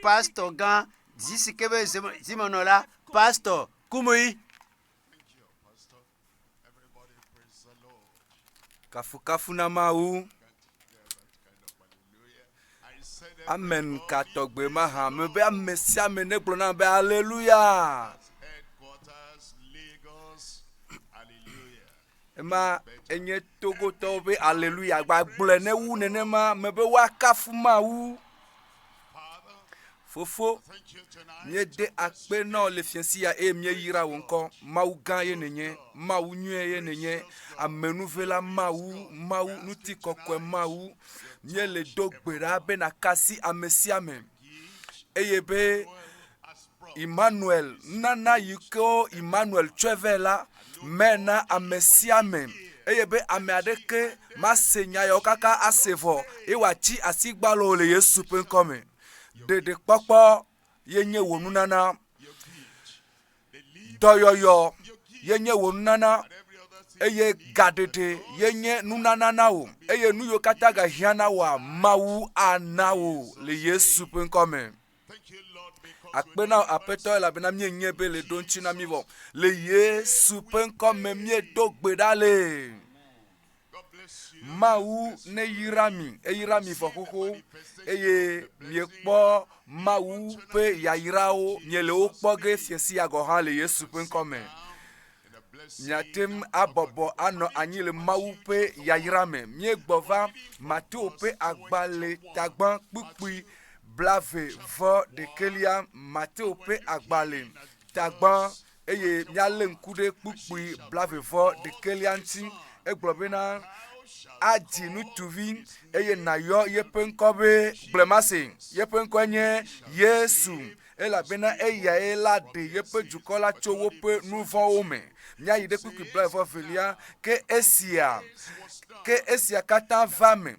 pastor gã zi si ke be zimenɔla pastor kumui kafukafu na mawu amen ka tɔgbe ma hã me be ame sia ame negblɔ na be aleluya Ema enye Togotɔwo ƒe aleluya gbagblɔe ne wu nenema me be woakafu Mawu. Fofo, míede akpe na wò le fiasia eye míeyra wò ŋkɔ. Mawu gã ye nènye, Mawu nyuie ye nènye, amenuvela Mawu, Mawu ŋutikɔkɔe Mawu. Míele do gbe ɖa be nàkasi ame sia ame eye be Immanuel nunana yi ke Immanuel tsɔe vɛ la me na ame sia ame eye be ame aɖeke mase nya yawo kaka ase vɔ eye wòatsi asigbalo le Yesu ƒe ŋkɔ me. Ɖeɖekpɔkpɔ ye nye wò nunana. Dɔyɔyɔ ye nye wò nunana eye gaɖeɖe ye nye nunana na wò eye nu yiwo katã gahiã na wòa, Mawu ana wò le Yesu ƒe ŋkɔ me. Akpe na wò aƒetɔ elabena míenyae be le ɖo ŋuti na mí vɔ. Le Yesu ƒe ŋkɔ me míedo gbe ɖa le. Mawu neyra mi, eyra mi vɔ xoxo eye miekpɔ Mawu ƒe yayrawo, miele wo kpɔ ge fiesia gɔ̃ hã le Yesu ƒe ŋkɔ me. Miate ŋu abɔbɔ anɔ anyi le Mawu ƒe yayra me. Míegbɔ va Mateo ƒe agbalẽ tagbã kpukpui blave vɔ ɖekɛlia, Mateo ƒe agbalẽ tagbã, eye míalé ŋku ɖe kpukpui blave vɔ ɖekɛlia ŋuti. Egblɔ bena, Adzi ŋutsuvi eye nàyɔ yeƒe ŋkɔ be Gblemasin. Yeƒe ŋkɔe nye Yesu. Elabena eyae la ɖe yeƒe dukɔ la tso woƒe nuvɔ̃wo me. Míayi ɖe kpukpui blaeve-velia, ke esia, ke esia katã va eme,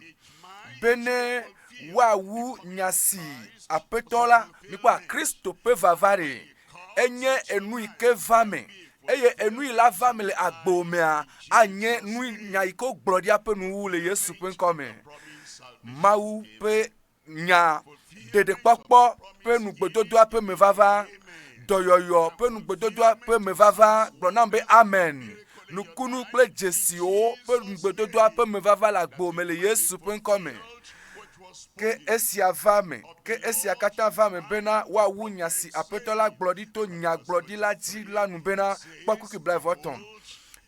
bene woawu nya si Aƒetɔ la, mikpɔ a, Kristo ƒe vava ɖe enye enu yi ke va eme, eye enu yi la va eme le agbo mea, anye nu, nya yi ke wogblɔ ɖi aƒe nuwuwu le Yesu ƒe ŋkɔ me. Mawu ƒe nya ɖeɖekpɔkpɔ ƒe nugbedodoa ƒe mevava, dɔyɔyɔ ƒe nugbedodoa ƒe mevava, gblɔ nam be amen. Nukunu kple dzesiwo ƒe nugbedodoa ƒe mevava le agbo me le Yesu ƒe ŋkɔ me. Ke esia va me, ke esia katã va me bena woawu nya si Aƒetɔ la gblɔ ɖi to nyagblɔɖila dzi la nu bena, kpɔ kpukui blaeve-vɔ-etɔ̃.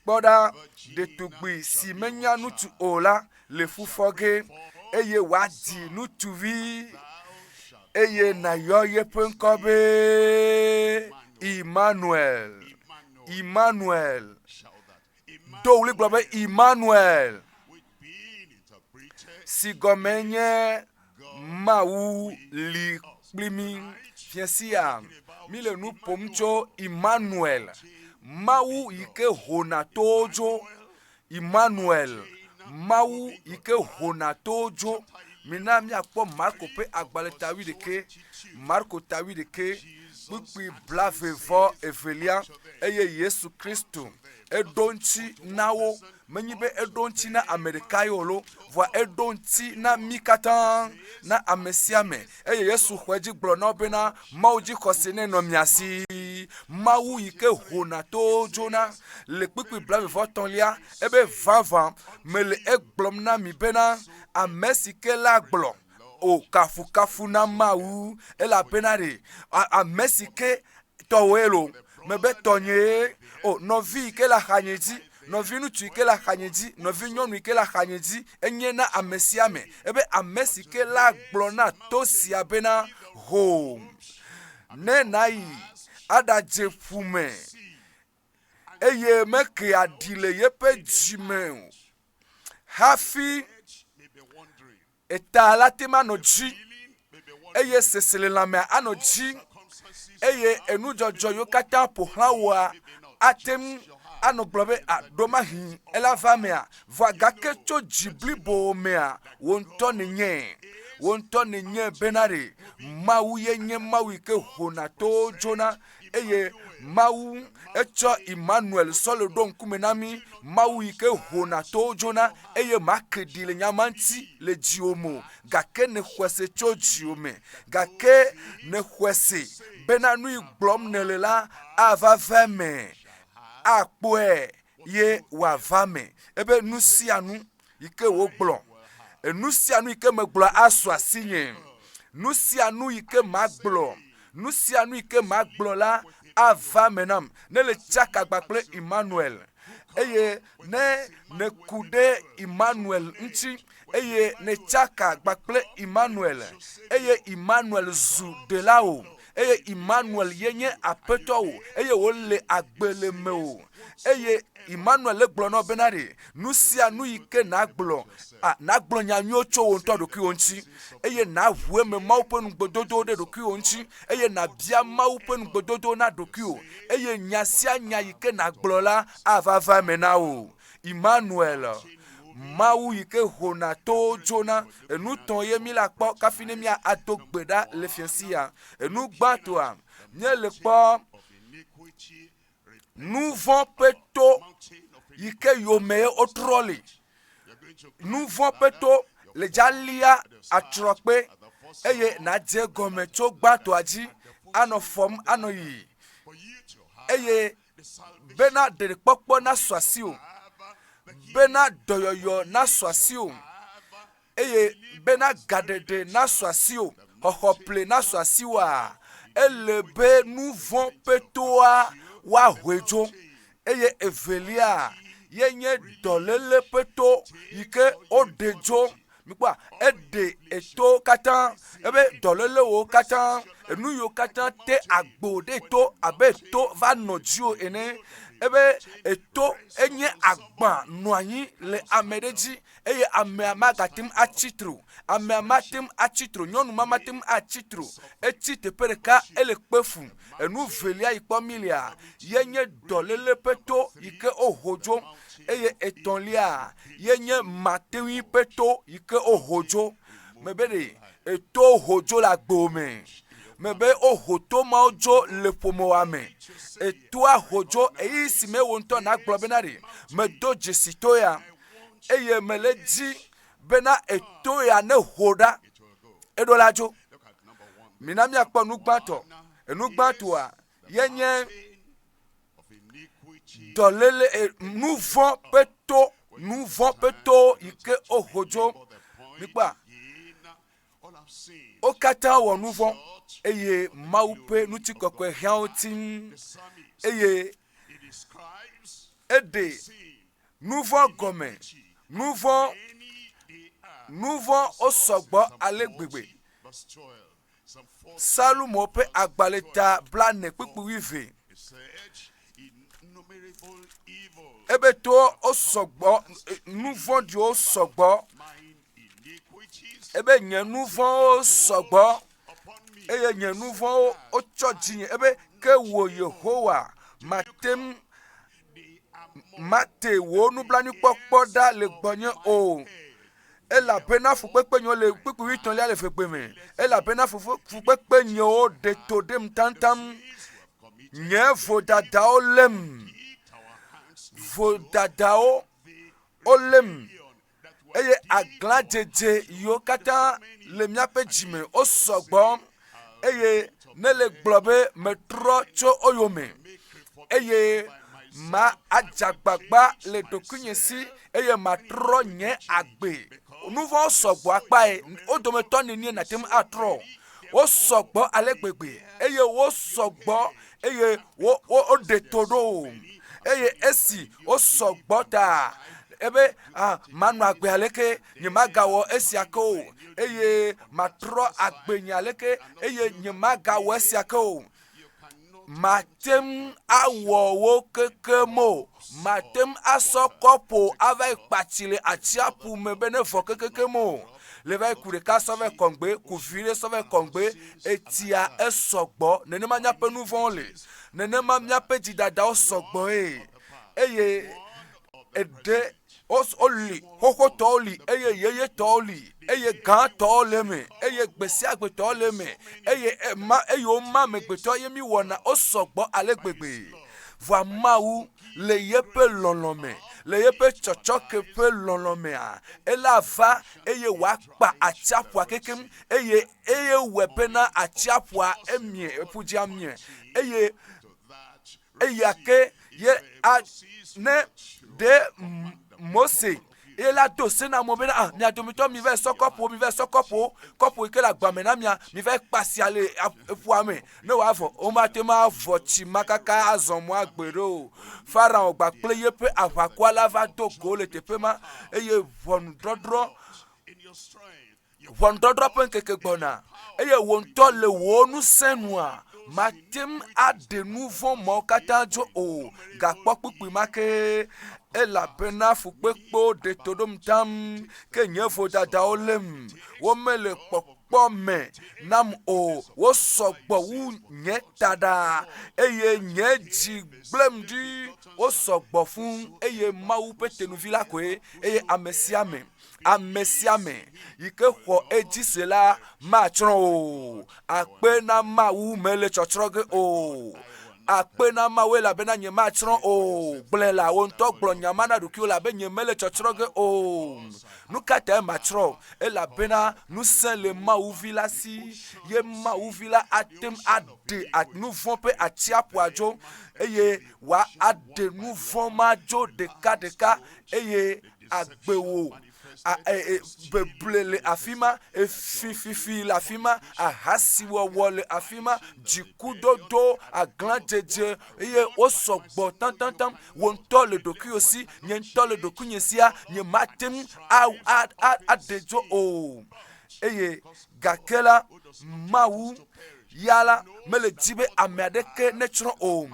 Kpɔ ɖa, ɖetugbui si menya nu tu o la le fu fɔ ge, eye wòadzi ŋutsuvi, eye nàyɔ yeƒe ŋkɔ be Imanuel. Imanuel. Do ɣli gblɔ be Imanuel, si gɔme nye Mawu li kpli mí. Fia sia, míle nu ƒom tso Imanuel, Mawu yi ke hona towo dzo, Immanuel, Mawu yi ke hona towo dzo. Mina míakpɔ Marko ƒe agbalẽ ta wuiɖekɛ, Marko ta wuiɖekɛ, kpukpui blave vɔ evelia, eye Yesu Kristo eɖo ŋuti na wo. Menye be eɖo ŋuti na ame ɖekae o lo, vɔa eɖo ŋuti na mí katã, na ame sia ame Eye Yesu xɔ edzi gblɔ na wo bena, Mawu dzixɔse nɛ nɔ mia si. Mawu yi ke hona to dzona le kpukpui blaeve-vɔ-etɔ̃lia ebe vavã mele egblɔm na mi bena, Ame si ke la gblɔ, O kafukafu na Mawu, elabena ɖe ame si ke Tɔwòe lo, mebe tɔnyee, o nɔvi yi ke le axanye dzi, nɔviŋutsu yi ke le axanye dzi, nɔvinyɔnu yi ke le axanye dzi, enye na ame sia ame. Ebe ame si ke la gblɔ na to sia bena, Ho, ne nàyi aɖadze ƒu me, eye meke aɖi le yeƒe dzi me o hafi Eta la te ŋu anɔ dzi eye seselelãmea anɔ dzi eye enudzɔdzɔ yiwo katã ƒo xlã wòa ate ŋu anɔ gblɔ be aɖo mahi ele ava emea. Vɔ gake tso dzi blibo mea, wò ŋutɔ nènye. Wò ŋutɔ nènye bena ɖe Mawu ye nye Mawu yi ke ƒona towo dzona. eye mawu etsɔ emmanuel sɔle ɖo ŋkume na mi mawu yi ke hona towo dzona eye make ɖi le nyama ŋuti le dziwo me o gake ne xɔse tso dziwo me gake ne xɔse bena nui gblɔm nele la ava va me akpɔe ye wòava me ebe nu sia nu yi ke wògblɔ, enu sia nu yi ke megblɔ asu asinye, nu sia nu yi ke magblɔ, nu sia nu yi ke magblɔ la ava me nam, ne le tsaka gba kple Emmanuel, eye ne nèku ɖe Emmanuel ŋuti, eye netsaka gba kple Emmanuel, eye Emmanuel zu ɖelawò, eye Emmanuel ye nye aƒetɔ o eye wòle agbe le me o. Eye Emmanuel le gblɔ na wo bena ɖe nu sia nu yi ke nàgblɔ, a, nàgblɔ nya nyuiwo tso wò ŋutɔ ɖokuiwò ŋuti, eye nàʋu eme Mawu ƒe nugbedodowo ɖe ɖokuiwò ŋuti, eye nàbia Mawu ƒe nugbedodowo na ɖokuiwò, eye nya sia nya yi ke nàgblɔ la ava va eme na wò. Immanuel, Mawu yi ke hona towo dzona. Enu tɔ̃ ye mí la kpɔ kafi ne mía ado gbe ɖa le fia si ya. Enu gbãtɔa, mía le kpɔ nuvɔ̃ ƒe to yi ke yome ye wo trɔ li. Nuvɔ̃ ƒe to le dza lia atrɔ kpe eye na dze gɔme tso gbãtɔa dzi anɔ fɔm anɔ yiyi eye. bena ɖeɖekpɔkpɔ nasu asiwò, bena dɔyɔyɔ nasu asiwò, eye bena gaɖeɖe nasu asiwò, xɔxɔ ple nasu asiwòa, ele be nu vɔ̃ ƒe toa woahoe dzo. Eye evelia ye nye dɔléle ƒe to yi ke woɖe dzo. Mikpɔa, eɖe eto katã, ebe dɔlélewo katã, enu yiwo katã te agbo ɖe to abe to va nɔ dziwò ene, ebe eto enye agbã nɔ anyi le ame ɖe dzi eye amea magate ŋu atsi tre o. Amea mate ŋu atsi tre o. Nyɔnu ma mate ŋu atsi tre o. Etsi teƒe ɖeka ele kpe fum. Enu velia yi kpɔ milia ye nye dɔléle ƒe to yi ke woho dzo, eye etɔ̃lia ye nye mateŋui ƒe to yi ke woho dzo. Mebe ɖe eto ho dzo le agbo me. Mebe woho to mawo dzo le ƒomewa me. Etoa ho dzo eyi si me wo ŋutɔ nagblɔ bena ɖe medo dzesi to ya eye mele di bena eto ya ne ho ɖa eɖo la dzo. Mina míakpɔ nu gbãtɔ. Enu gbãtɔa ye nye dɔlele eh, nu vɔ̃ ƒe to, nu vɔ̃ ƒe to yi ke woho dzo. Mikpɔa, wo katã wɔ nu vɔ̃ eye Mawu ƒe ŋutikɔkɔe hiã wo tim eye eɖe Nuvɔ gɔme, nuvɔ, nuvɔ osɔgbɔ ale gbegbe. Salomo ƒe agbalẽ ta blane kpukpu wuive. Ebe to osɔgbɔ, nuvɔɖiwo sɔgbɔ. Ebe nye nuvɔwo sɔgbɔ eye nye nuvɔwo otsɔ dzinye. Ebe ke wo Yehowa mateŋ. mate wò nublanuikpɔkpɔ ɖa le gbɔnye o. Elabena fukpekpe nyewo le kpukpuivi tɔ̃lia le fekpe me. Elabena fukpekpe nyewo ɖe to ɖem taŋtaŋ. Nye vodadawo lém. Vodadawo wolém. eye aglãdzedze yiwo katã le míaƒe dzime wosɔ gbɔ eye ne le gblɔ be metrɔ tso wo yome eye ma adze agbagba le ɖokuinye si eye matrɔ nye agbe. Nu vɔ̃wo sɔgbɔ akpae wo dometɔ nenie nàte ŋu atrɔ o. Wosɔ gbɔ ale gbegbe eye wosɔ gbɔ eye woɖe to ɖo eye esi wosɔ gbɔ ta ebe ah, manɔ agbe aleke nyemagawɔ esia ke o eye matrɔ agbe nye aleke eye nyemagawɔ esia ke o mate ŋu awɔ wo keke mo mate ŋu asɔ kɔpo ava yi kpatsi le atsiaƒu me be ne vɔ kekeke mo Le va yi ku ɖeka sɔ vɛ kɔŋgbe, ku vi ɖe sɔ vɛ kɔŋgbe, etsia esɔgbɔ. Nenema míaƒe nu vɔ̃wo le. Nenema míaƒe dzidadawo sɔgbɔe. Eye eɖe woli, xoxotɔwo li eye yeyetɔwo li eye gãtɔwo le eme eye gbesiagbetɔwo le eme eye ema eye woma amegbetɔ ye míwɔna wosɔgbɔ ale gbegbe. Vɔa Mawu le yeƒe lɔlɔ̃ me, le yeƒe tsɔtsɔke ƒe lɔlɔ̃ mea, ele ava eye wòakpa atsiaƒua kekeŋ eye eye wòe bena atsiaƒua emie, ƒu dzi amie eye eya ke ye a ne ɖe Mose ye la do se na amewo bena, ah, mia domitɔ mivae sɔ kɔpuwo, mivae sɔ kɔpuwo, kɔpu yi ke le agba me na mia, mivae kpasia le ƒua me ne wòavɔ. Womate ŋu avɔ tsi ma kaka azɔ mɔ agbe ɖo o. Farao kpakple yeƒe aʋakɔa la va do go le teƒe ma eye ʋɔnudɔdrɔ̃ Ʋɔnudɔdrɔ̃ ƒe ŋkeke gbɔna eye wò ŋutɔ le wò ŋusẽ nua màte ŋu aɖe nu vɔ̃ mawo katã dzo o. Gakpɔ kpukpui ma ke elabena fukpekpewo ɖe to ɖom tam ke nye vodadawo lém. Womele kpɔkpɔ me nam o. Wosɔ gbɔ wu nye taɖa eye nye dzi gblẽm ɖi. Wosɔ gbɔ fũ eye Mawu ƒe tenuvi la koe eye ame sia ame ame sia ame yi ke xɔ edzi se la matsrɔ̃ o akpe na mawu mele tsɔtsrɔ̃ ge o akpe na mawu elabena nye matsrɔ̃ o gblɔe la wo ŋutɔ gblɔ nya ma na ɖokuiwo labe nye mele tsɔtsrɔ̃ ge o nu ka tae matsrɔ̃ elabena ŋusẽ le mawu vi la si ye mawu vi la ate ŋu aɖe nu vɔ̃ ƒe atsiaƒua dzo eye wòaɖe nu vɔ̃ ma dzo ɖekaɖeka eye agbewo beble le afi ma efififi le afi ma ahasiwɔwɔ le afi ma dzikudodo aglãdzedze eye wosɔ gbɔ taŋtaŋtaŋ wɔ ŋutɔ le ɖokuiwò si nye ŋutɔ le ɖokuinye sia nyemate ŋu aɖe dzo o eye Gake la, Mawu ya la mele di be ame aɖeke netsrɔ̃ o.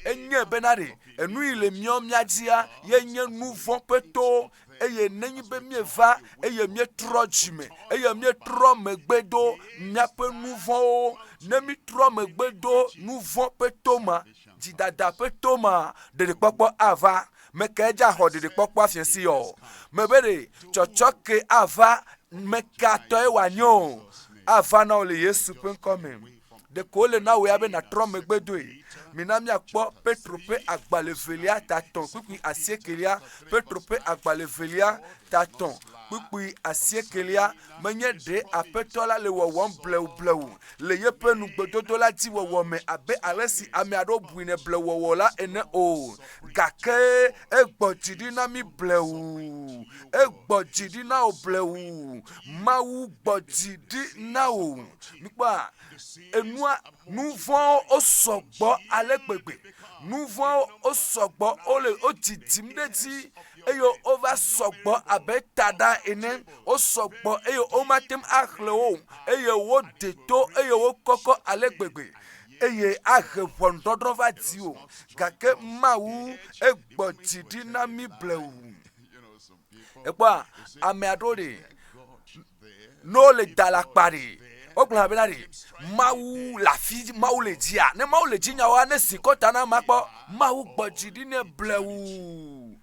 Enye bena ɖe enu yi le mía mía dzia ye nye nu vɔ̃ ƒe to eye nenye be míeva eye míetrɔ dzime eye míetrɔ megbe do míaƒe nu vɔ̃wo, ne míetrɔ megbe do nu vɔ̃ ƒe to ma, Dzidada ƒe to ma ɖeɖekpɔkpɔ ava. Meke edza xɔ ɖeɖekpɔkpɔa fiɛsi ɔ? Mebe ɖe tsɔtsɔke ava meka tɔe wòanye o, ava na wò le Yesu ƒe ŋkɔ me. Ɖeko wole na wòe abe nàtrɔ megbe doe. Mina míakpɔ Petro ƒe agbalẽ evelia tatɔ̃ kpukpui asiekelia, Petro ƒe agbalẽ evelia tatɔ̃ kpukpui asiekelia. Menye ɖe Aƒetɔ la le wɔwɔm bleublewu le yeƒe nugbedodo la dzi wɔwɔ me abe alesi ame aɖewo bui ne blewɔwɔ la ene o, gake egbɔ dzi ɖi na mí blewu. Egbɔ dzi ɖi na wò blewu. Mawu gbɔ dzi ɖi na wò. Mikpɔa? Enua, nuvɔ̃wo sɔgbɔ ale gbegbe. Nuvɔ̃wo sɔgbɔ, wole, wodzidzim ɖe edzi. eye wova sɔgbɔ abe taɖa ene. Wosɔ gbɔ eye womate ŋu axlẽ wo o eye woɖi to eye wokɔkɔ ale gbegbe eye ahe ʋɔnudɔdrɔ̃ va dziwò gake Mawu egbɔ dzi ɖi na mí blewu. Èkpɔa? Ame aɖewo li ne wole da le akpa ɖe, wogblɔna bena ɖe, Mawu le afi, Mawu le dzia. Ne Mawu le dzi nyawoa, ne zi kɔta na ma kpɔ. Mawu gbɔ dzi ɖi ne blewu.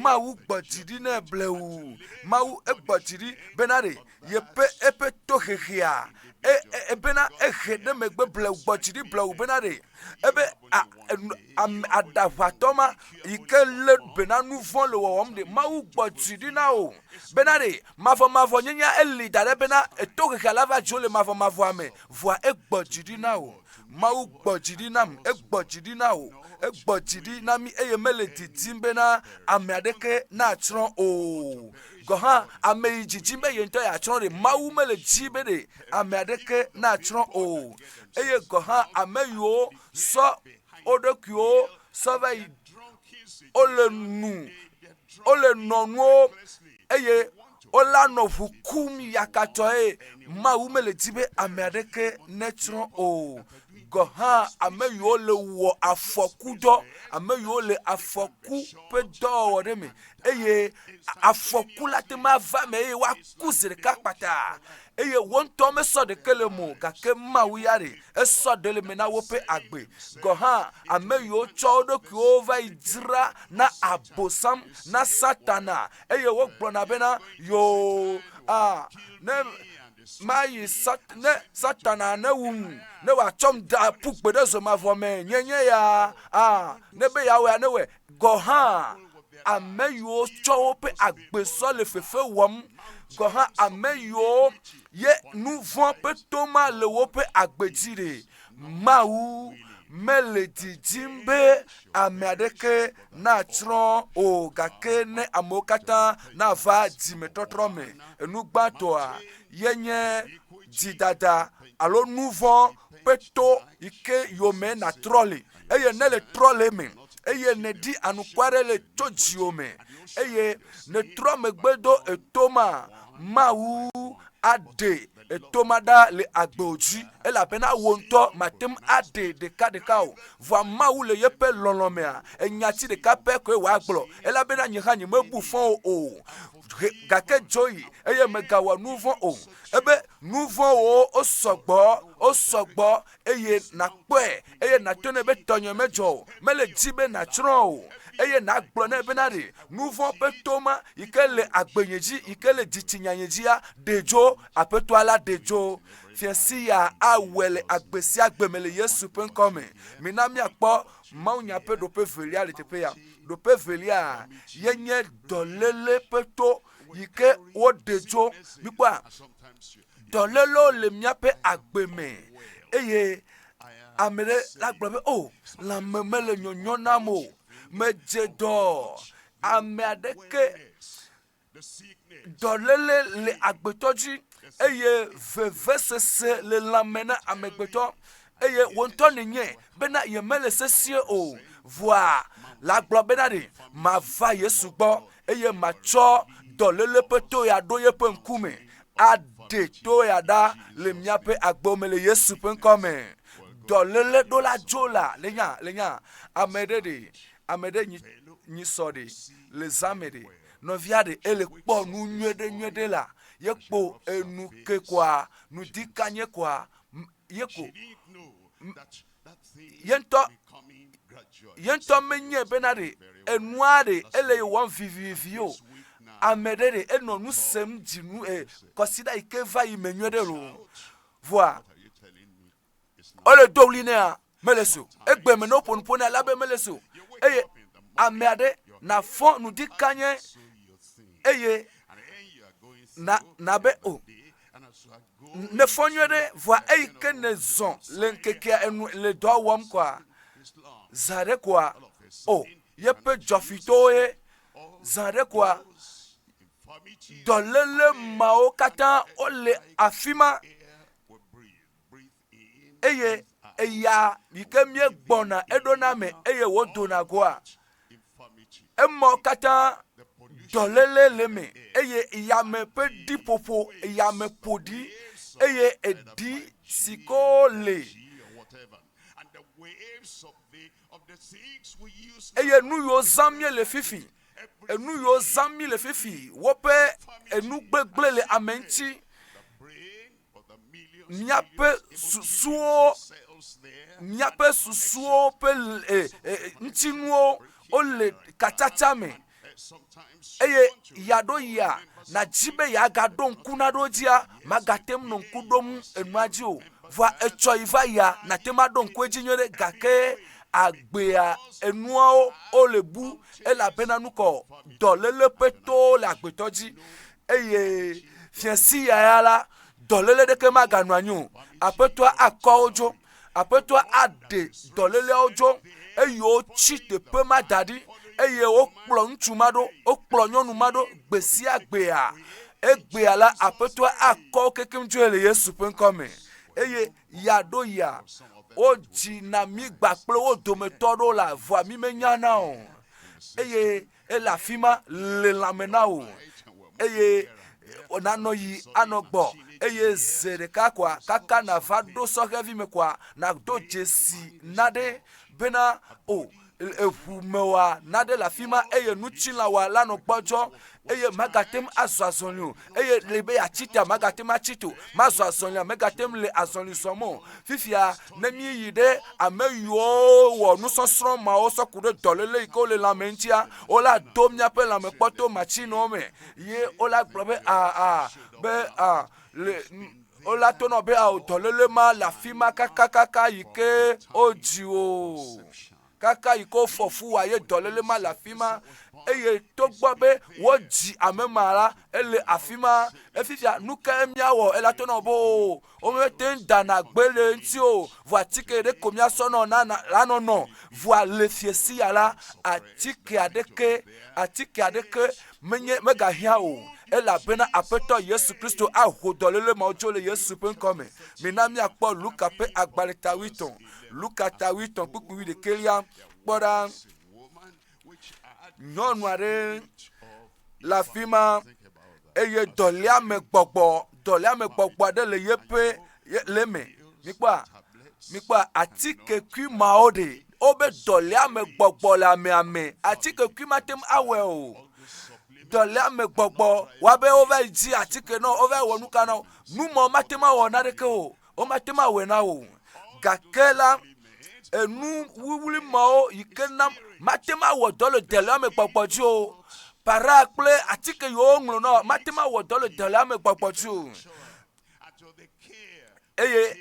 Mawu gbɔ dzi ɖi ne blewu. Mawu egbɔ dzi ɖi bena ɖe yeƒe eƒe tohehea e, e, e bena ehe ɖe megbe blewu gbɔ dzi ɖi blewu bena ɖe ebe a, ame aɖaʋatɔ ma yi ke lé be na nu vɔ̃ le wɔwɔm ɖe mawu gbɔ dzi ɖi na o bena ɖe mavɔmavɔ nyenya eli da ɖe bena eto xexea la va dzo le mavɔmavɔa me vɔa egbɔ dzi ɖi na o mawu gbɔ dzi ɖi nam egbɔ dzi ɖi na o egbɔ dzi ɖi na mi eye mele didim bena ame aɖeke natsrɔ̃ o gɔ̃ hã ame yi didim be yeŋtɔ yeatsrɔ̃ ɖe mawu mele di be ɖe ame aɖeke natsrɔ̃ o eye gɔ̃ hã ame yiwo sɔ wo ɖokuiwo sɔ va yi wole nu wole nɔ nuwo eye wole anɔ ŋu kum yakatɔe mawu mele di be ame aɖeke netsrɔ̃ o gɔ hã ame yiwo le wɔ afɔku dɔ ame yiwo le afɔku ƒe dɔwɔwɔ ɖe me eye afɔku la te ma va me eye woaku zi ɖeka kpata eye wo ŋutɔ mesɔ ɖeke le eme o gake Mawu ya ɖe esɔ ɖe le eme na woƒe agbe. Gɔ̃ hã ame yiwo tsɔ wo ɖokuiwo va yi dzra na Abosam, na Satana, eye wogblɔna bena, Yoo, a, ne mayi sat, ne Satana newum, ne wòatsɔm da ƒu gbe ɖe zomavɔ me, nye nye ya, a, ne be yeawɔa, newɔe. gɔ̃ hã, ame yiwo tsɔ woƒe agbe sɔ le fefe wɔm gɔ̃ hã, ame yiwo ye nu vɔ̃ ƒe toma le woƒe agbe dzi ɖe, Mawu mele didim be ame aɖeke natsrɔ̃ o, gake ne amewo katã nava dzimetɔtrɔ me. Enu gbãtɔa ye nye dzidada alo nu vɔ̃ ƒe to yi ke yome nàtrɔ le, eye nèle trɔ le eme, eye nèɖi anuku aɖe le tso dziwò me, eye nètrɔ megbe do eto ma, Mawu aɖe eto ma ɖa le agbewò dzi, elabena wò ŋutɔ màte ŋu aɖee ɖekaɖeka o. Vɔa Mawu le yeƒe lɔlɔ̃ mea, enya ti ɖeka pɛ koe wòagblɔ, elabena nye hã nyemebu fɔ wò o. gake dzo yi eye megawɔ nu vɔ̃ o. Ebe nu vɔ̃wo wosɔgbɔ, wosɔgbɔ eye nàkpɔe eye nàto nɛ be tɔnye medzɔ o. Mele di be nàtsrɔ̃ o eye nàgblɔ nɛ bena ɖe nu vɔ̃ ƒe to ma yi ke le agbenye dzi, yi ke le dzitsinyanye dzia, ɖe dzo. Aƒetɔa la ɖe dzo. Fia sia awɔe le agbe sia gbe me le Yesu ƒe ŋkɔ me. Mina míakpɔ Mawunya ƒe ɖoƒe velia le teƒe ya. Ɖoƒe velia ye nye dɔléle ƒe to yi ke woɖe tso. Mikpɔa, dɔlélewo le míaƒe agbe me eye ame ɖe la gblɔ be, o, oh, lãme mele nyɔnyɔ nam o. Medze dɔ. Ame aɖeke Dɔléle le agbetɔ dzi, eye vevesese le lãme na amegbetɔ, eye wò ŋutɔ nènye bena yemele sesĩe o. Vɔa la gblɔ bena ɖe mava Yesu gbɔ eye matsɔ dɔléle ƒe to ya ɖo yeƒe ŋkume aɖe to ya ɖa le míaƒe agbewo me le Yesu ƒe ŋkɔ me. Dɔléle ɖola dzola le nya le nya ame ɖe ɖe ame ɖe nyi nyi sɔ ɖe le zã me ɖe. Nɔvia ɖe ele kpɔ nu nyuiɖe nyuiɖe la ye kpo enu ke kɔa nu di kanye kɔa ye ko ye ŋutɔ ye ŋutɔ menye bena ɖe enua ɖe ele ye wɔm vivivi o ame ɖe ɖe enɔ nu sem dzinu e kɔsiɖa yi ke va yi me nyuiɖe lo vɔa wole do ɣli nɛa mele so egbe me ne woƒo nu ƒo nea la be mele so eye ame aɖe nafɔ nu di kanye eye na na be o ne fɔ nyuie ɖe vɔa eyi ke ne zɔn le ŋkekea enu le dɔ wɔm kɔa zã ɖe kɔa o yeƒe dzɔfitɔwo ye zã ɖe kɔa dɔléle mawo katã wole afi ma eye eya yi ke míegbɔna eɖona me eye wòdona goa, emɔ katã dɔléle le me eye yame ƒe ɖiƒoƒo yame ƒo ɖi eye eɖi si ko le eye nu yiwo zã mie le fifi enu yiwo zã mi le fifi woƒe enu gbegblẽ le ame ŋuti míaƒe susuwo, míaƒe susuwo ƒe e, e, ŋutinuwo wole katsatsa me eye ya ɖo ya nadzi be yeagaɖo ŋku na ɖo dzia magate ŋu nɔ ŋku ɖom enua dzi o vɔa etsɔ yi va ya nate ŋu aɖo ŋku edzi nyuie ɖe gake agbea enuawo wole bu elabena nukɔ dɔléle ƒe towo le agbetɔ dzi eye fia si yaya la dɔléle ɖeke maganɔ anyi o aƒetɔa akɔ wo dzo aƒetɔa aɖe dɔléleawo dzo eye wotsi teƒe ma da ɖi eye wokplɔ ŋutsu ma ɖo wokplɔ nyɔnu ma ɖo gbe sia gbea egbea la aƒetɔa akɔ wo kekem dzoe le yesu ƒe ŋkɔ me eye ya ɖo ya wodzi na mi gba kple wo dometɔ ɖo la vɔa mi menya na o eye Ele afi ma le lãme na wò, eye wònanɔ yi anɔ gbɔ, eye ze ɖeka koa, kaka nàva ɖo sɔhɛvi me koa, nàdo dzesi naɖe bena, o, eŋu mewɔa naɖe le afi ma eye nutsilawa la nɔ gbɔdzɔ eye magate ŋu azɔ azɔli o eye le be yeatsi ta magate ŋu atsi to mazɔ azɔlia megate ŋu le azɔli zɔm o fifia ne míeyi ɖe ame yiwo wɔ nusɔsrɔ̃ mawo sɔ ku ɖe dɔléle yi ke wole lãme ŋutia, wola do míaƒe lãme kpɔto matsinewo me ye wola gblɔ be aa ah, ah, be aa ah, le wola tonɔ be ao dɔléle ma le afi ma kakakaka yi ke wodzi wo. kaka yi ke wofɔ fu wa ye dɔléle ma le afi ma eye togbɔ be wodzi ame ma la ele afi ma efifia nu ka míawɔ ela to nɔ boo womete ŋu dana gbe le eŋuti o vɔ atike ɖe ko míasɔ nɔ nana la nɔnɔ vɔa le fiesia la atike aɖeke atike aɖeke Menye megahiã o, elabena Aƒetɔ Yesu Kristo aho dɔléle mawo tso le Yesu ƒe ŋkɔ me. Mina míakpɔ Luka ƒe agbalẽ ta wuietɔ̃. Luka ta wuietɔ̃ kpukpui wuiɖekɛlia. Kpɔ ɖa, nyɔnu aɖe le afi ma eye dɔléame gbɔgbɔ, dɔléame gbɔgbɔ aɖe le yeƒe le eme. Mikpɔa, mikpɔa atike kui mawo ɖe Wobe dɔléamegbɔgbɔ le amea me. Atike kui mate ŋu awɔe o. Dɔléamegbɔgbɔ wa be wova yi dzi atike na wo, wova yi wɔ nu ka na wo. Nu ma mate ŋu awɔ naneke o. Womate ŋu awɔe na wo. Gake la, enu wuwlui mawo yi ke na mate ŋu awɔ dɔ le dɔléamegbɔgbɔ dzi o. Para kple atike yiwo woŋlɔ na wo mate ŋu awɔ dɔ le dɔléamegbɔgbɔ dzi o. Eye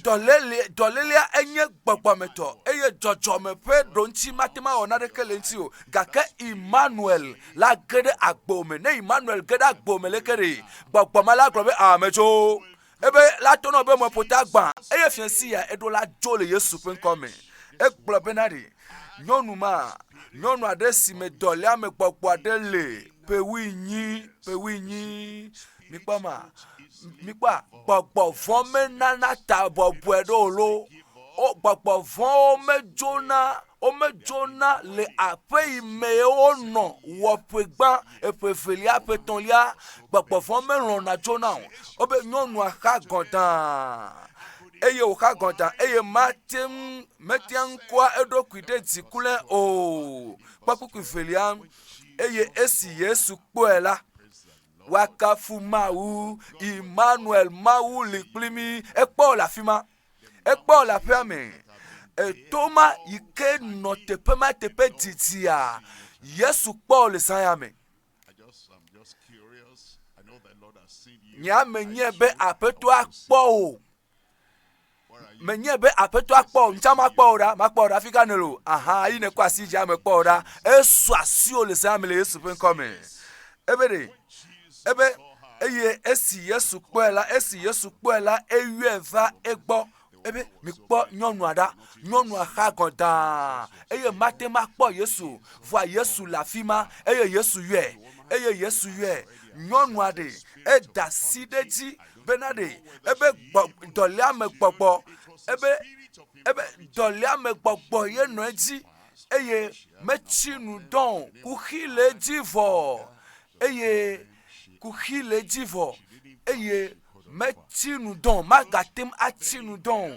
dɔléle, dɔlélea enye gbɔgbɔmetɔ eye dzɔdzɔme ƒe ɖoŋuti mate ŋu awɔ naneke le eŋuti o. Gake Immanuel la ge ɖe agbo me. Ne Immanuel ge ɖe agbo me leke ɖe? Gbɔgbɔ ma la gblɔ be aa medzo. Ebe la to nɔ be meƒota gbã eye fia si ya eɖo la dzo le Yesu ƒe ŋkɔ me. Egblɔ bena ɖe nyɔnu ma, nyɔnu aɖe si me dɔléa me gbɔgbɔ aɖe le ƒewui nyi, ƒewui nyi mikpɔ ma mikpɔa gbɔgbɔ vɔ menana ta bɔbɔe ɖo lo wo gbɔgbɔ vɔwo medzona womedzona le aƒe yi me wonɔ wɔ ƒe gbã eƒe evelia ƒe etɔ̃lia gbɔgbɔ vɔ melɔ̃na dzona o wobe nyɔnua xa gɔdaa eye wòxa gɔda eye mate ŋu mete ŋu kɔa eɖokui ɖe dzi kura o kpɔ kpukpui velia eye esi yesu kpɔe la Woakafu Mawu, Immanuel, Mawu li kpli mí. Ekpɔ le afi ma, ekpɔ le aƒea me. Eto ma yi ke nɔ teƒe ma teƒe didia, Yesu kpɔ le zã ya me. Nye ame nye be aƒetɔa kpɔ o. menye be aƒetɔa kpɔ o ŋutsa makpɔ o ɖa makpɔ o ɖa fi ka ne lo aha yi ne kɔ asi dzi ame kpɔ o ɖa esu asi o le zã me le yesu ƒe ŋkɔ me ebe ɖe ebe eye esi yesu kpɔe la esi yesu kpɔe la eyɔe va egbɔ ebe mikpɔ nyɔnua ɖa nyɔnua xa gɔn daa eye mate ma kpɔ yesu vɔa yesu le afi ma eye yesu yɔe eye yesu yɔe nyɔnua ɖe eda si ɖe dzi Bena ɖe ebe gbɔ, dɔléamegbɔgbɔ, ebe, ebe dɔléamegbɔgbɔ ye nɔ edzi, eye metsi nu dɔ o, kuxi le edzi vɔ, eye kuxi le edzi vɔ, eye metsi nu dɔ o, magate ŋu atsi nu dɔ o,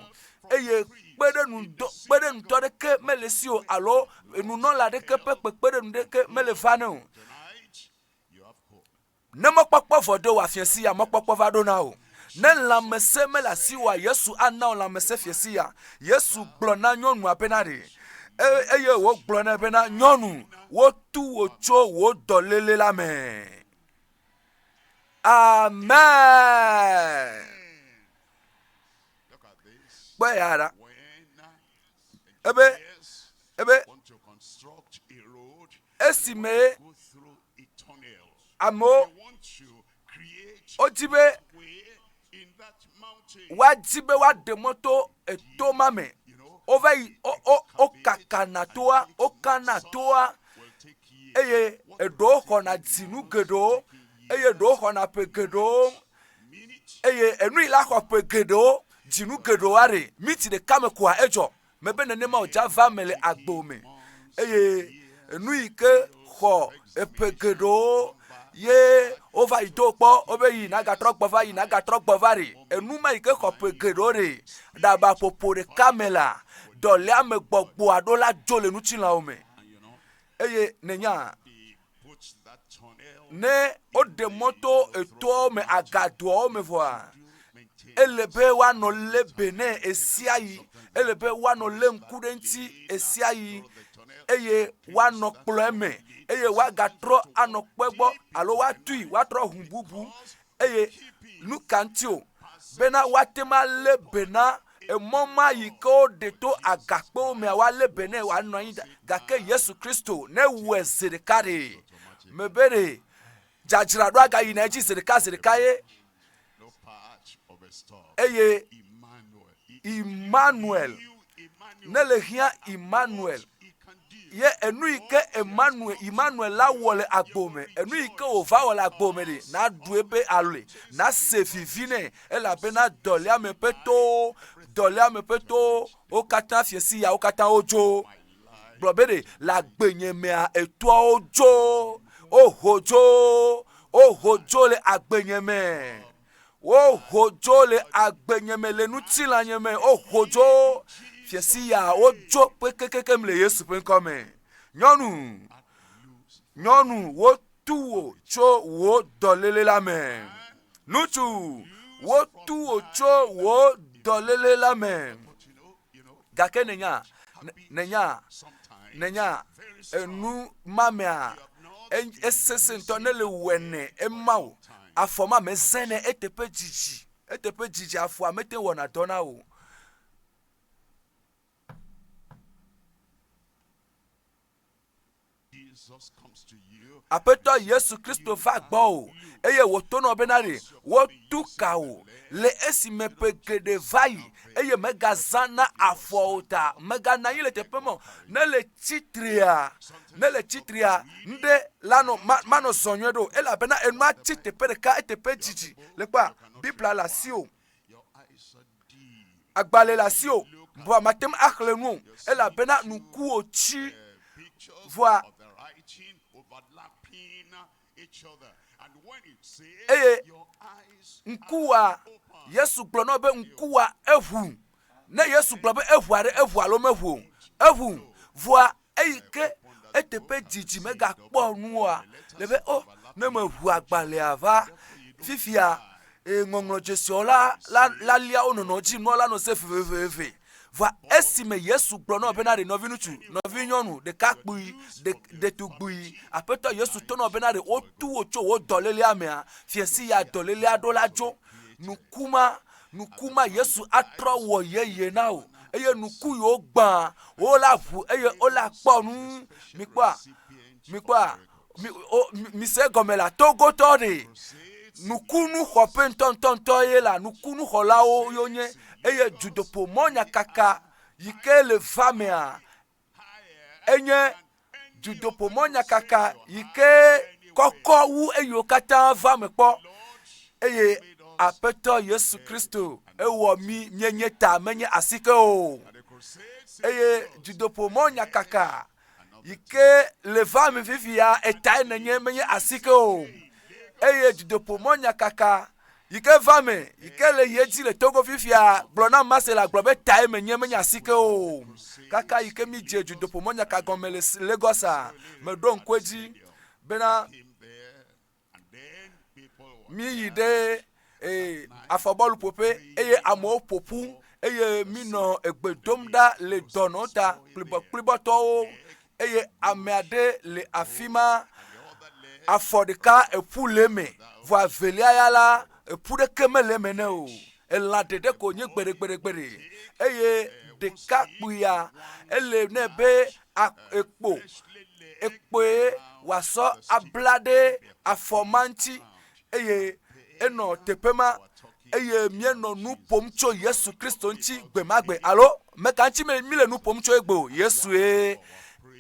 eye kpeɖeŋudɔ, kpeɖeŋutɔ aɖeke mele esi o alo nunɔla aɖeke ƒe kpekpeɖeŋu aɖeke mele va nɛ o. Ne mɔkpɔkpɔ vɔ ɖo wòafia si ya, mɔkpɔkpɔ va ɖo na wò. Ne lãmesẽ mele asiwòa, Yesu ana wò lãmesẽ fia si ya. Yesu gblɔ na nyɔnua bena ɖe, e, eye wògblɔ nɛ bena, Nyɔnu, wotu wò tso wò dɔléle la me. Amen. Kpɔe ya ɖa. ebe ebe esi me amewo wodi be woadi be woaɖe mɔ to eto ma me wova yi wokakana toa wokana toa eye eɖewo xɔna dzinu geɖewo eye eɖewo xɔna ƒe geɖewo eye enui la xɔ ƒe geɖewo, dzinu geɖewo aɖe, miti ɖeka me koa edzɔ. Mebe nenema o, Java me le agbo me, eye enu yi ke xɔ eƒe geɖewo ye wova yi do kpɔ wobe yi nagatrɔ gbɔ va yi nagatrɔ gbɔ va ɖe enu ma yi ke xɔ ƒe geɖewo ɖe ɖaba ƒoƒo ɖeka me la dɔlea me gbɔgbɔa ɖo la dzo le ŋutilãwo me eye nenya ne woɖe mɔ to etoawo me agadoawo me vɔa ele be woanɔ lé be ne esia yi ele be woanɔ lé ŋku ɖe eŋuti esia yi eye woanɔ kplɔe me eye woagatrɔ anɔ kpe gbɔ alo woatui woatrɔ ʋu bubu Eye nu ka ŋuti o bena woate ŋu alé be na emɔ ma yi ke woɖe to agakpewo mea woalé be nɛ wòanɔ anyi ɖa. Gake Yesu Kristo newɔe zi ɖeka ɖe. Mebe ɖe dzadzraɖo agayina edzi zi ɖeka zi ɖeka ye. Eye Emmanuel, ne le hiã Emmanuel, ye enu yi ke Emmanuel, Emmanuel la wɔ le agbo me, enu yi ke wòva wɔ le agbo me ɖe, naɖu ebe alɔe, nase vivi nɛ, elabena dɔléame ƒe towo, dɔléame ƒe towo, wo katã fiesi yawo katã wodzo. Gblɔ be ɖe, le agbenye mea, etoawo dzo, woho dzo, woho dzo le agbenye me. woho dzo le agbenye me le ŋutilãnye me woho dzo fiasiya wodzo kpekekeke le yesu ƒe ŋkɔ me nyɔnu nyɔnu wotu wò tso wò dɔlele la me ŋutsu wotu wò tso wò dɔlele la me Gake nènya, nènya, nènya enu ma mea, esesẽ ŋutɔ ne le wɔe ne ema o. Afɔ ma me zẽ ne eteƒe dzidzi, eteƒe dzidzi afɔa mete wɔna dɔ na o. Aƒetɔ Yesu Kristo va gbɔwò eye wòtonɔ bena ɖe wotu ka wò le esime ƒe geɖe va yi eye megazã na afɔwo ta, meganɔ anyi le teƒe ma o. Ne le tsitrea, ne le tsitrea, ŋɖe lanɔ ma manɔ zɔ nyuie ɖe o elabena enua tsi teƒe ɖeka eteƒe didi le kpɔa Biblia le asiwò. agbalẽ le asi o vɔa mate ŋu axlẽ nu o elabena nuku wòtsi vɔa eye ŋkuwa yesu gblɔ na be ŋkuwa eʋu ne yesu gblɔ be eʋu aɖe eʋu alo meʋu o eʋu vɔa eyi ke eteƒe didi megakpɔ nu oa le be o oh, ne meʋu agbalẽa va fifia eye ŋɔŋlɔ dzesiawo la la la lia wo nɔnɔ dzi nua la nɔ se veveveve va esime yesu gblɔ nɔ bena ɖe nɔviŋutsu nɔvinyɔnu ɖekakpui ɖetugbui aƒetɔ yesu to nɔ bena ɖe wotu wo tso wo dɔlélea mea fiasi ya dɔlélea ɖo la dzo nuku ma nuku ma yesu atrɔ wɔ yeye na o eye nuku yi wogbã wola ʋu eye wola kpɔ nu mikpɔa mikpɔa mise gɔme la togotɔ ɖe nukunu xɔƒe ŋutɔŋutɔŋutɔ ye la nukunu xɔlawo yonye eye dzodoƒo mɔnyakaka yi ke le va mea enye dudoƒomɔnyakaka yi ke kɔkɔ wu eyiwo katã va me kpɔ eye aƒetɔ yesu kristo ewɔ mi mienye ta menye asike o eye dudoƒomɔnyakaka yi ke le va me fifia etae nenye menye asike o eye dudoƒomɔnyakaka yi ke va me, yi ke le ye dzi le Togo fifia, gblɔ na Marcela gblɔ be tae menye menye asike o. Kaka yi ke mi dze dzodoƒo mɔnyaka gɔme le Lagosa, meɖo ŋku edzi bena mi yi ɖe eh, afɔbɔlu ƒoƒe eye amewo ƒoƒu eye mi nɔ egbe dom ɖa le dɔnɔ ta kplibɔkplibɔtɔwo eye ame aɖe le afi ma, afɔ ɖeka eƒu le eme, vɔ avelia ya la, eƒu ɖeke mele eme ne o. Elã ɖeɖe ko nye gbeɖegbeɖegbeɖe eye ɖeka kpuia ele nɛ be ekpo ekpoe wòasɔ abla ɖe afɔ ma ŋuti. eye enɔ teƒe ma eye míenɔ nu ƒom tso Yesu Kristo ŋuti gbe ma gbe alo meka ŋuti míle nu ƒom tso egbe o, Yesue.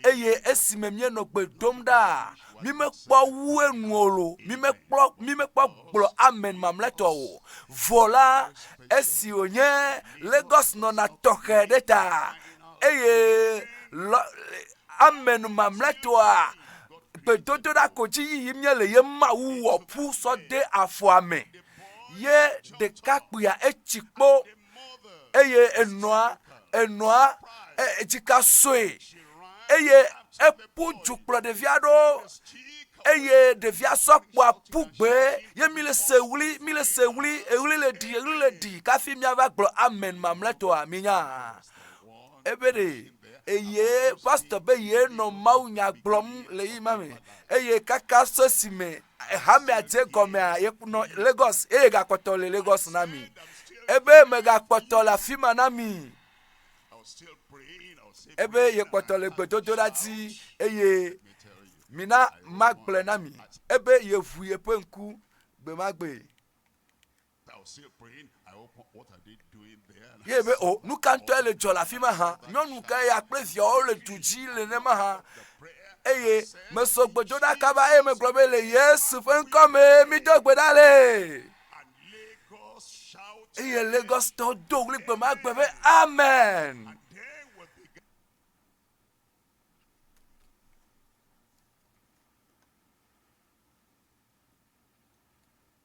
Eye esime míenɔ gbe dom ɖa, mímekpɔ wu enu o lo, mímekpɔ mímekpɔ gblɔ amen mamlɛtɔ o. Vɔ la, esi wònye Lagos nɔna tɔxɛ ɖe ta eye lɔ amen mamlɛtɔa gbedodoɖa ko dzi yiyi míele ye mawu wɔ ƒu sɔ de afɔa me ye ɖekakpuia etsi kpo eye enɔa enɔa edzika sue eye eƒu du kplɔ ɖevi aɖewo eye ɖevia sɔ kpoa ƒu gbe ye mi le se wli mi le se wli eɣli le ɖi eɣli le ɖi kafi miava gblɔ amen mamlɛtɔa mi nya. ebe ɖe eye pastor be ye nɔ mawu nya gblɔm le yi ma me eye kaka so si me hamea dze gɔmea ye nɔ lagos eye gakpɔtɔ le lagos na mi ebe megakpɔtɔ le afi ma na mi ebe ye kpɔtɔ le gbedodoɖa dzi eye mina magblɔe na mi ebe yeʋu yeƒe ŋku gbe ma gbe Ye be, O, nu ka ŋutɔe le dzɔ le afi ma hã? Nyɔnu kae ya kple viawo le du dzi le nenema hã? Eye meso gbedoɖaka va eye megblɔ be, Le Yesu ƒe ŋkɔ mee mido gbe ɖa le. Eye Lagostɔwo do ɣli gbe ma gbe be, Amen.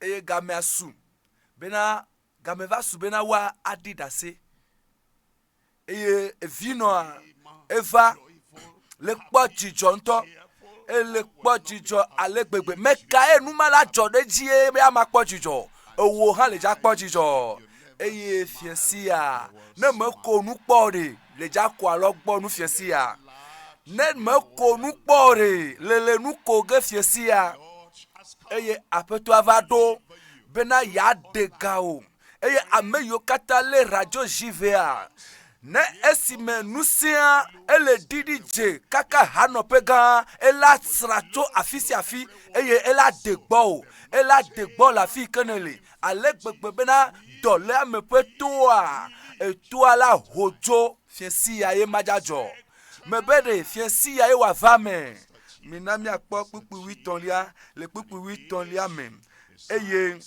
Eye gamea su bena, game va su bena woaɖi ɖase. Eye vinɔa eva le kpɔ dzidzɔ ŋutɔ. Ele kpɔ dzidzɔ ale gbegbe. Mekae nu ma la dzɔ ɖe edzi ye be ama kpɔ dzidzɔ o? Ewò hã le dza kpɔ dzidzɔ. eye fiasia ne meko nu kpɔ ɖe le dzakɔa lɔ gbɔ nu fiasia ne meko nu kpɔ ɖe le le nu ko ge fiasia eye aƒetɔa va ɖo bena yeaɖe ga o eye ame yiwo katã lé radio ʒivea ne esime nu sia ele ɖiɖi dze kaka hanɔƒe gã ela sra tso afi sia afi eye ela de gbɔ o ela de gbɔ le afi yi ke nele ale gbegbe bena dɔléame ƒe toa etoa la ho tso fiẽsia ye madzadzɔ me be ɖe fiẽsia ye wòava me. Mina míakpɔ kpukpui wuitɔ̃lia le kpukpui wuitɔ̃lia me. Eye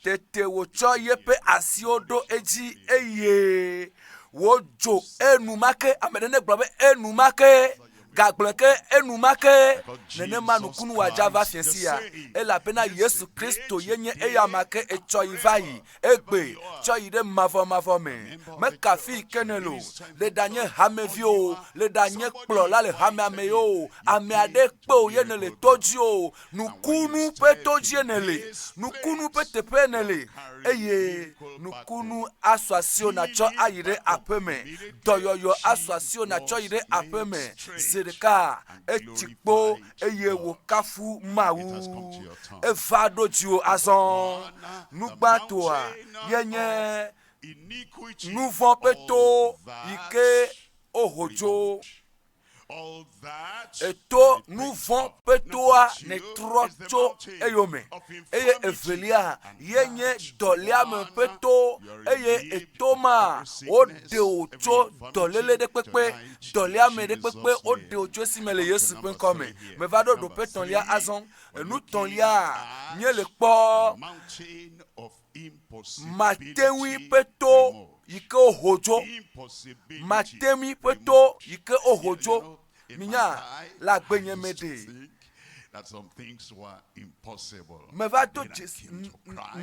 tete wòtsɔ yeƒe asiwo ɖo edzi eye wòdzo enumake. Ame ɖe negblɔ be enumake. gagblɔe ke enumake nenema nukunu wòadza va fia sia, elabena Yesu Kristo yenye eya ma ke etsɔ yi va yi, egbe tsɔ yi ɖe mavɔmavɔ me. Mekafi ke ne lo, le ɖanye hamevi o, le ɖanye kplɔla le hamea me o, ame aɖe kpe o ye nèle to dzi o, Nukunu ƒe todzie nèle, nukunu ƒe teƒee nèle, eye nukunu asɔ asiwò nàtsɔ ayi ɖe aƒe me. Dɔyɔyɔ asɔ asiwò nàtsɔ yi ɖe aƒe me. Zi ɖeka etsi kpo eye wòkafu Mawu. Eva ɖo dziwò azɔ. Nu gbãtɔa ye nye nuvɔ̃ ƒe to yi ke woho dzo. Èto nu vɔ̃ ƒe toa nètrɔ tso eyome, eye evelia ye nye dɔléame ƒe to, eye èto ma woɖe wò tso dɔléle ɖe kpekpe, dɔléame ɖe kpekpe woɖe wò tso esi me le Yesu ƒe ŋkɔ me. Meva ɖo ɖoƒe tɔ̃lia azɔ. Enu tɔ̃lia nye le kpɔ Mate ŋui ƒe to yi ke woho dzo. Mate ŋui ƒe to yi ke woho dzo. Minya, le agbenye me ɖe, meva do dzesi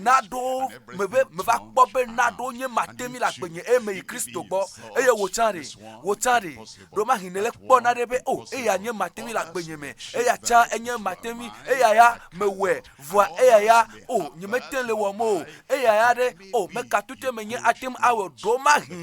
naɖewo me be meva kpɔ be naɖewo nye mate ŋui le agbenye eye meyi Kristo gbɔ eye wò tsã ɖe, wò tsã ɖe? Ɖewomahi nèle kpɔna ɖe be o eya nye mate ŋui le agbenye me, eya tsã enye mate ŋui, eya ya mewɔe vɔa eya ya o nyemete le wɔm o eya ya ɖe o mekatute menye ate ŋu awɔ ɖo mahi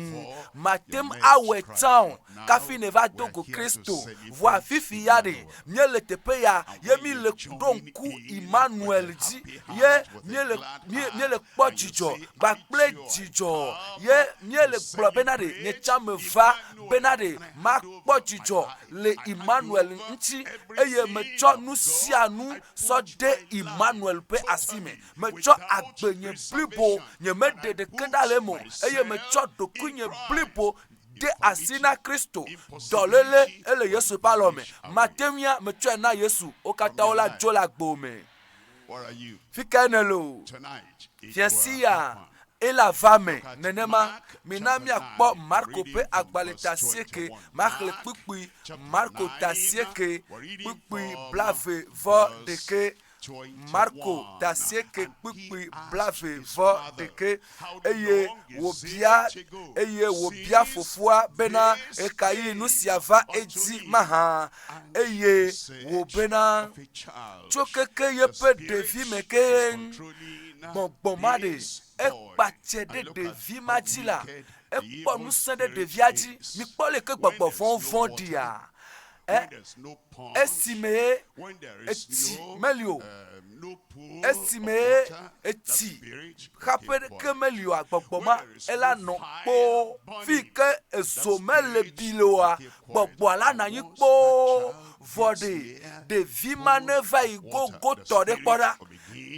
mate ŋu awɔe tsã o kafi neva do go kristo vɔa fifi ya ɖe míele teƒe ya ye míele ɖo ŋku emmanuel dzi ye míele míele kpɔ dzidzɔ kpakple dzidzɔ ye míele gblɔ bena ɖe nye tsã meva bena ɖe makpɔ dzidzɔ le emmanuel ŋuti eye metsɔ nu sia nu sɔ de Immanuel ƒe asi me. Metsɔ agbe nye blibo, nyemeɖe ɖeke ɖa le eme o, eye metsɔ ɖokuinye blibo de asi na Kristo. Dɔléle ele Yesu ƒe alɔ me. Mate ŋui metsɔe na Yesu. Wo katã wo la dzo le agbo me. Fi kae nèle o? Fiasia, Ela va me nenema. Mina míakpɔ Marko ƒe agbalẽ ta asieke ma xlẽ kpukpui, Marko ta asieke kpukpui blave vɔ ɖekɛ. Marko ta asieke kpukpui blave vɔ ɖekɛ. Eye wòbia, eye wòbia fofoa bena, Ɣekaɣi nu sia va edzi mahã? Eye wòbena, Tso keke yeƒe ɖevime ke. gbɔgbɔ ma ɖe ekpa tse ɖe ɖevi ma dzi la ekpɔ ŋusẽ ɖe ɖevia dzi mikpɔ le ke gbɔgbɔ vɔ̃ vɔ̃ ɖia ɛ esi me etsi meli o um, esi me etsi xaƒe ɖeke meli o agbɔgbɔ ma ela nɔ kpoo fi ke ezo mele bi le oa gbɔgbɔa la nanyi kpoo vɔ ɖe ɖevi ma ne va yi gogotɔ ɖe kpɔ ɖa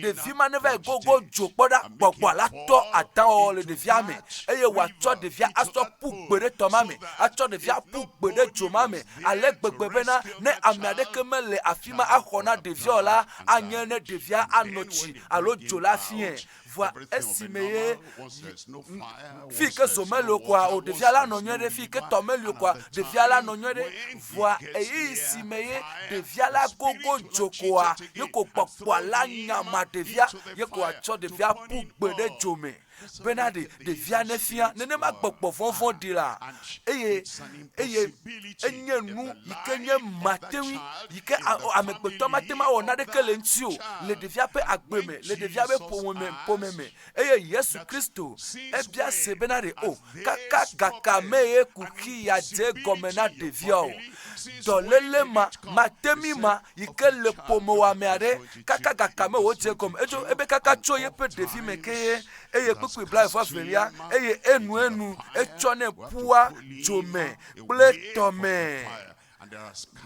ɖevi ma neva yi gogo dzo kpɔ ɖa gbɔgbɔa la tɔ adawɔwɔ le ɖevia me eye wòatsɔ ɖevia asɔ ƒu gbe ɖe tɔ ma me atsɔ ɖevia ƒu gbe ɖe dzo ma me ale gbegbe bena ne ame aɖeke mele afi ma axɔ na ɖevia o la anye ne ɖevia anɔ tsi alo dzo la fie vɔa esime ye fi ke zo meli o koa o ɖevia la nɔ nyuie ɖe fi ke tɔ meli o koa ɖevia la nɔ nyuie ɖe vɔa ɣeyiɣi si me ye ɖevia la gogo dzo koa ye ko kpɔkpɔa la nyama ɖevia ye ko atsɔ ɖevia ƒu gbe ɖe dzo me bena ɖe ɖevia nefia nenema gbɔgbɔ vɔvɔ ɖi la eye eye enye nu yi ke nye matewi yi ke amegbetɔ mate ma wɔ naɖeke le ŋuti o le ɖevia ƒe agbe me le ɖevia ƒe ƒome me ƒome me Eye Yesu Kristo, ebia se bena ɖe o kaka gaka mee ye kuxi ya dze gɔme na ɖevia o. Dɔlele ma, matemi ma yi ke le ƒomewɔame aɖe kaka gaka me wòdze gɔme. Edzo ebe kaka tso yeƒe ɖevi me ke ye eye kpukpui blaeve-vɔ-evelia eye enu enu etsɔ ne ƒua dzo me kple tɔ me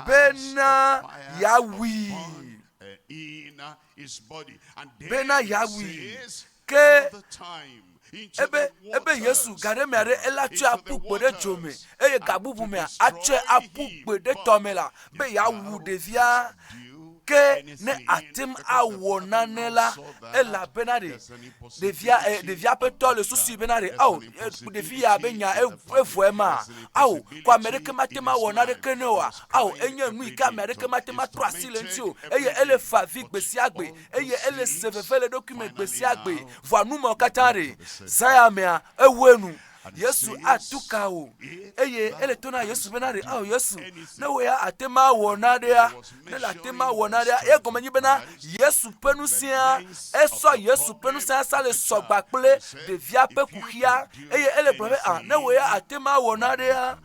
bena yeawui. bena yeawui. Ke ebe, ebe Yesu ga ɖe mea ɖe ele atsɔe aƒu gbe ɖe dzo me, eye ga bubu mea atsɔe aƒu gbe ɖe tɔ me la, be yeawu ɖevia. Ke ne ate ŋu awɔ nane la, elabena ɖe, ɖevia ɛ eh, ɖevia ƒe tɔ le susui bena ɖe ao eh, ɖevi ya be nya evɔe eh, ma ao ko ame ɖeke mate ma wɔ na ɖeke ne oa ao enye nu yi ke ame aɖeke mate ma trɔ asi le ŋuti o eye ele fa vi gbe sia gbe eye ele se veve le ɖokui me gbe sia gbe vɔa nu mawo katã ɖe zaya mea ewɔe nu Yesu atu ka wò eye ele to na Yesu bena ɖe ao Yesu ne wò ya ate ma wɔ naɖea ne le ate ma wɔ naɖea ye gɔme nyi bena Yesu ƒe nusẽa esɔ Yesu ƒe nusẽa sa le sɔgba kple ɖevia ƒe kuxia eye ele gblɔ be a ne wò ya ate ma wɔ naɖea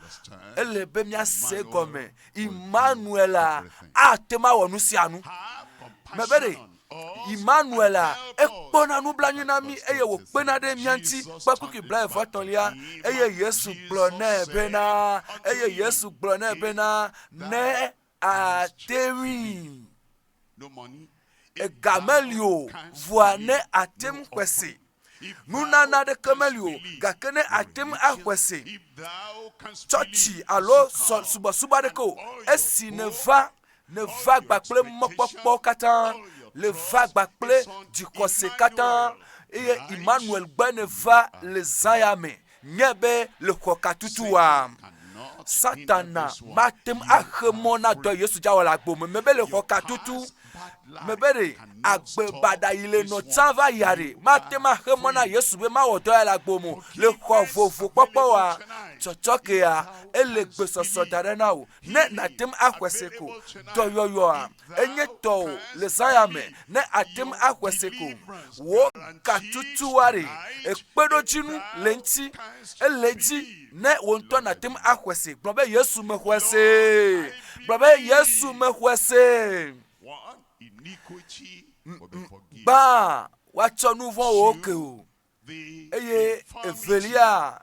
ele be miase gɔme Emmanuela ate ma wɔ nu sia nu mebe ɖe Imanuela, ekpɔna nublanui na mí eye wòkpena ɖe mía ŋuti kpe kpukpui blaeve-etɔ̃lia, eye Yesu gblɔ nɛ bena, eye Yesu gblɔ nɛ bena, ne àte ŋui, ega meli o, vɔa ne àte ŋu kpe se. Nunana aɖeke meli o, gake ne àte ŋu aƒe se tsɔtsi alo sɔ subɔsubɔ aɖeke o, esi nèva, nèva gba kple mɔkpɔkpɔ katã, le va gba kple dzixɔse katã, eye Immanuel gbe nèva le zã ya me. nye be le xɔkatutu wɔm. Satana mate ŋu axe mɔ na dɔ Yesu dzawɔ le agbo me. Mebe le xɔkatutu, mebe ɖe agbe baɖa yi le nɔ tsã va yia ɖe mate ŋu axe mɔ na Yesu be mawɔ dɔ ya le agbo me le xɔ vovo kpɔkpɔ wa. Tsɔtsɔkea ele gbesɔsɔ da ɖe na wò ne nàte ŋu axɔe se ko. Dɔyɔyɔa enye tɔwò le zaya me ne àte ŋu axe se ko. Wò gatutuari, ekpeɖodzinu le ŋuti. Ele edzi ne wò ŋutɔ nàte ŋu axe se. Gblɔ be Yesu mexɔe se. Gblɔ be Yesu mexɔe se. Gbã woatsɔ nu vɔ̃wo ke o. eye evelia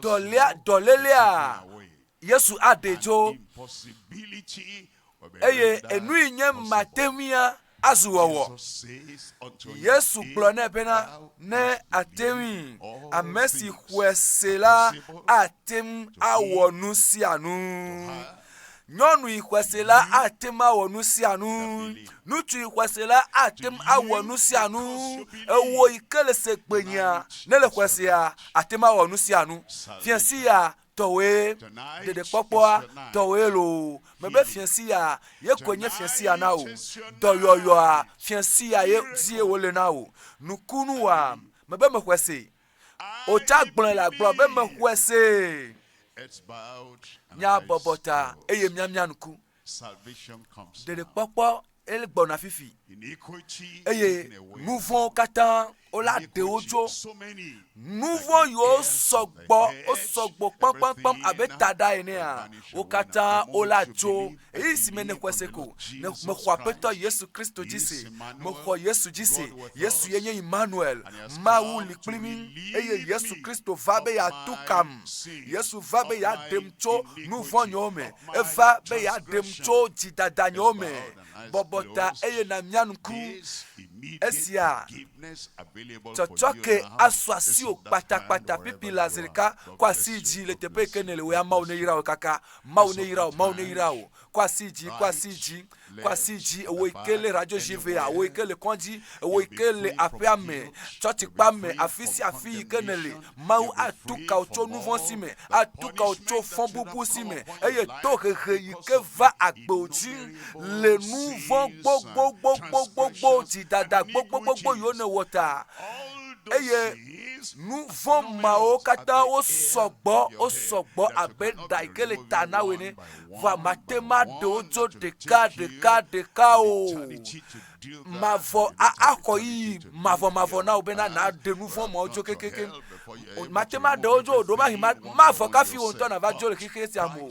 dɔlia dɔlélea yesu aɖe tso eye enui nye mate ŋuia azu wɔwɔ yesu gblɔ nɛ bena ne ate ŋui ame si xɔe se la ate ŋu awɔ nu sia nu Nyɔnui xɔsela ate ŋu awɔ nu sia nu. Ŋutsui xɔsela ate ŋu awɔ nu sia nu. Ewɔ yi ke le se kpenyia ne le xɔsea ate ŋu awɔ nu sia nu. Fiasi ya tɔwoe ɖeɖekpɔkpɔa tɔwoe loo. Mebe fiasi ya ye koe nye fiasi ya na wò. Dɔyɔyɔa fiasi ya ye zie wòle na wò. Nukunu wa mebe mexɔe se. Wotsa gblɔe le agblɔ be mexɔe see. Míabɔbɔ ta eye míamia ŋku. Ɖeɖekpɔkpɔ gbɔna fifi eye nu vɔ̃wo katã wola ɖe wo tso nu vɔ̃ yiwo sɔgbɔ wosɔgbɔ kpakpakpam abe taɖa enea wo katã wole atso ɣeyiɣi si me nèxɔe se ko. Ne mexɔ Aƒetɔ Yesu Kristo dzi se, mexɔ Yesu dzi se. Yesu ye nye Immanuel, Mawu li kpli mí, eye Yesu Kristo va be yeatu kam. Yesu va be yeaɖem tso nu vɔ̃ nyewo me. Eva be yeaɖem tso dzidada nyewo me. bɔbɔ ta eye nàmia ŋku esia, Tsɔtsɔke asu asiwò kpatakpata pipi le azrika, kɔ asi yi dzi le teƒe yi ke nèle wòya Mawu neyra wò kaka, Mawu neyra wò, Mawu neyra wò, kɔ asi yi dzi, kɔ asi yi dzi, kɔ asi yi dzi, ewò yi ke le radioʒiŋea, ewò yi ke le kɔdzi, ewò yi ke le aƒeame, tsɔtsikpea me, afi sia afi yi ke nèle, Mawu atu ka wò tso nu vɔ̃ si me, atu ka wò tso fɔbubu si me, eye tohehe yi ke va agbewò dzi le nu vɔ̃ gbogbogbogbogbogbo, dzidada gbogbogbogbo yiwo nèwɔ ta. Eye nu vɔ̃ mawo katã wosɔ gbɔ, wosɔ gbɔ abe ɖa yi ke le ta na wò ene. Vɔa màte ŋu aɖe wo dzo ɖeka ɖeka ɖeka o. mavɔ axɔ yiyi mavɔmavɔ na wò bena nàɖe nu vɔ̃ mawo dzo kekekeŋ. Mate ŋu aɖe wo dzo o, ɖo mahi mavɔ kafi wò ŋutɔ nàva dzo le xexea sia me o.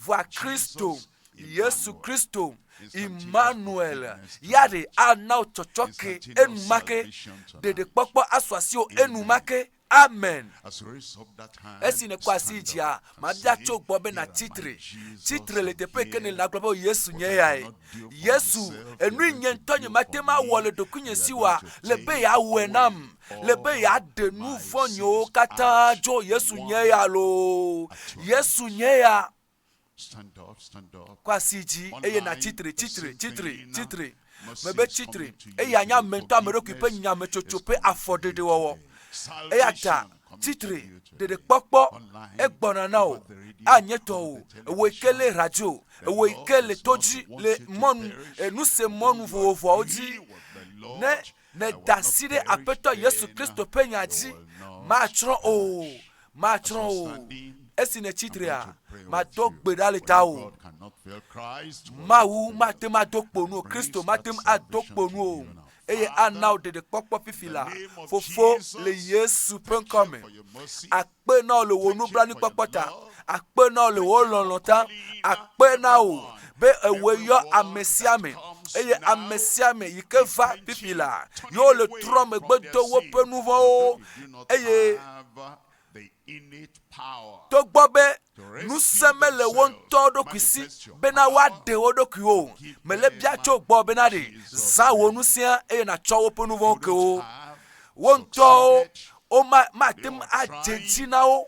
Vɔa Kristo, Yesu Kristo, Immanuel, ya ɖe ana wò tsɔtsɔke enumake, ɖeɖekpɔkpɔ asu asiwò enumake. Amen. Esi nèkɔ asi yi dzia, mabia tso gbɔ be nàtsi tre. Tsi tre le teƒe ke nèle nagblɔ be o Yesu nye yae. Yesu, enui nye ŋutɔ nye mate ŋu awɔ le ɖokuinye si wa, le be yeawɔe nam. Le be yeaɖe nu vɔ̃ nyewo katã dzo Yesu nye ya loo. Yesu nye ya. Kɔ asi yi dzi, eye nàtsi tre, tsi tre, tsi tre, tsi tre. Mebe tsi tre, eye ànye ame ŋutɔ ame ɖokui ƒe nyametsotso ƒe afɔɖeɖewɔwɔ. Eya ta tsi tre, ɖeɖekpɔkpɔ, egbɔna na wò. Anye tɔwò. Ewɔe ke le radio, ewɔe ke le to dzi, le mɔnu, nusemɔnu vovovoawo dzi. Ne Meda asi ɖe Aƒetɔ Yesu Kristo ƒe nya dzi, matsrɔ̃ o, matsrɔ̃ o. Esi nètsi trea, mado gbe ɖa le tawò. Mawu mate ŋu ado kpo nu o, Kristo mate ŋu ado kpo nu o, eye ana wò ɖeɖekpɔkpɔ fifi la, Fofo, le Yesu ƒe ŋkɔ me, akpe na wò le wò nublanuikpɔkpɔ ta akpe na wò le wò lɔlɔ̃ ta akpe na wò be ewɔe yɔ ame sia ame eye ame sia ame yi ke va pipi la yewo le trɔ megbe do woƒe nu vɔ̃wo eye togbɔ be ŋusẽ mele wo ŋutɔ ɖokui si bena woaɖe wo ɖokuiwo o mele bia tso gbɔ bena ɖe zã wò ŋusẽa eye nàtsɔ woƒe nu vɔ̃wo ke wo wo ŋutɔwo womate ŋu adze si na wo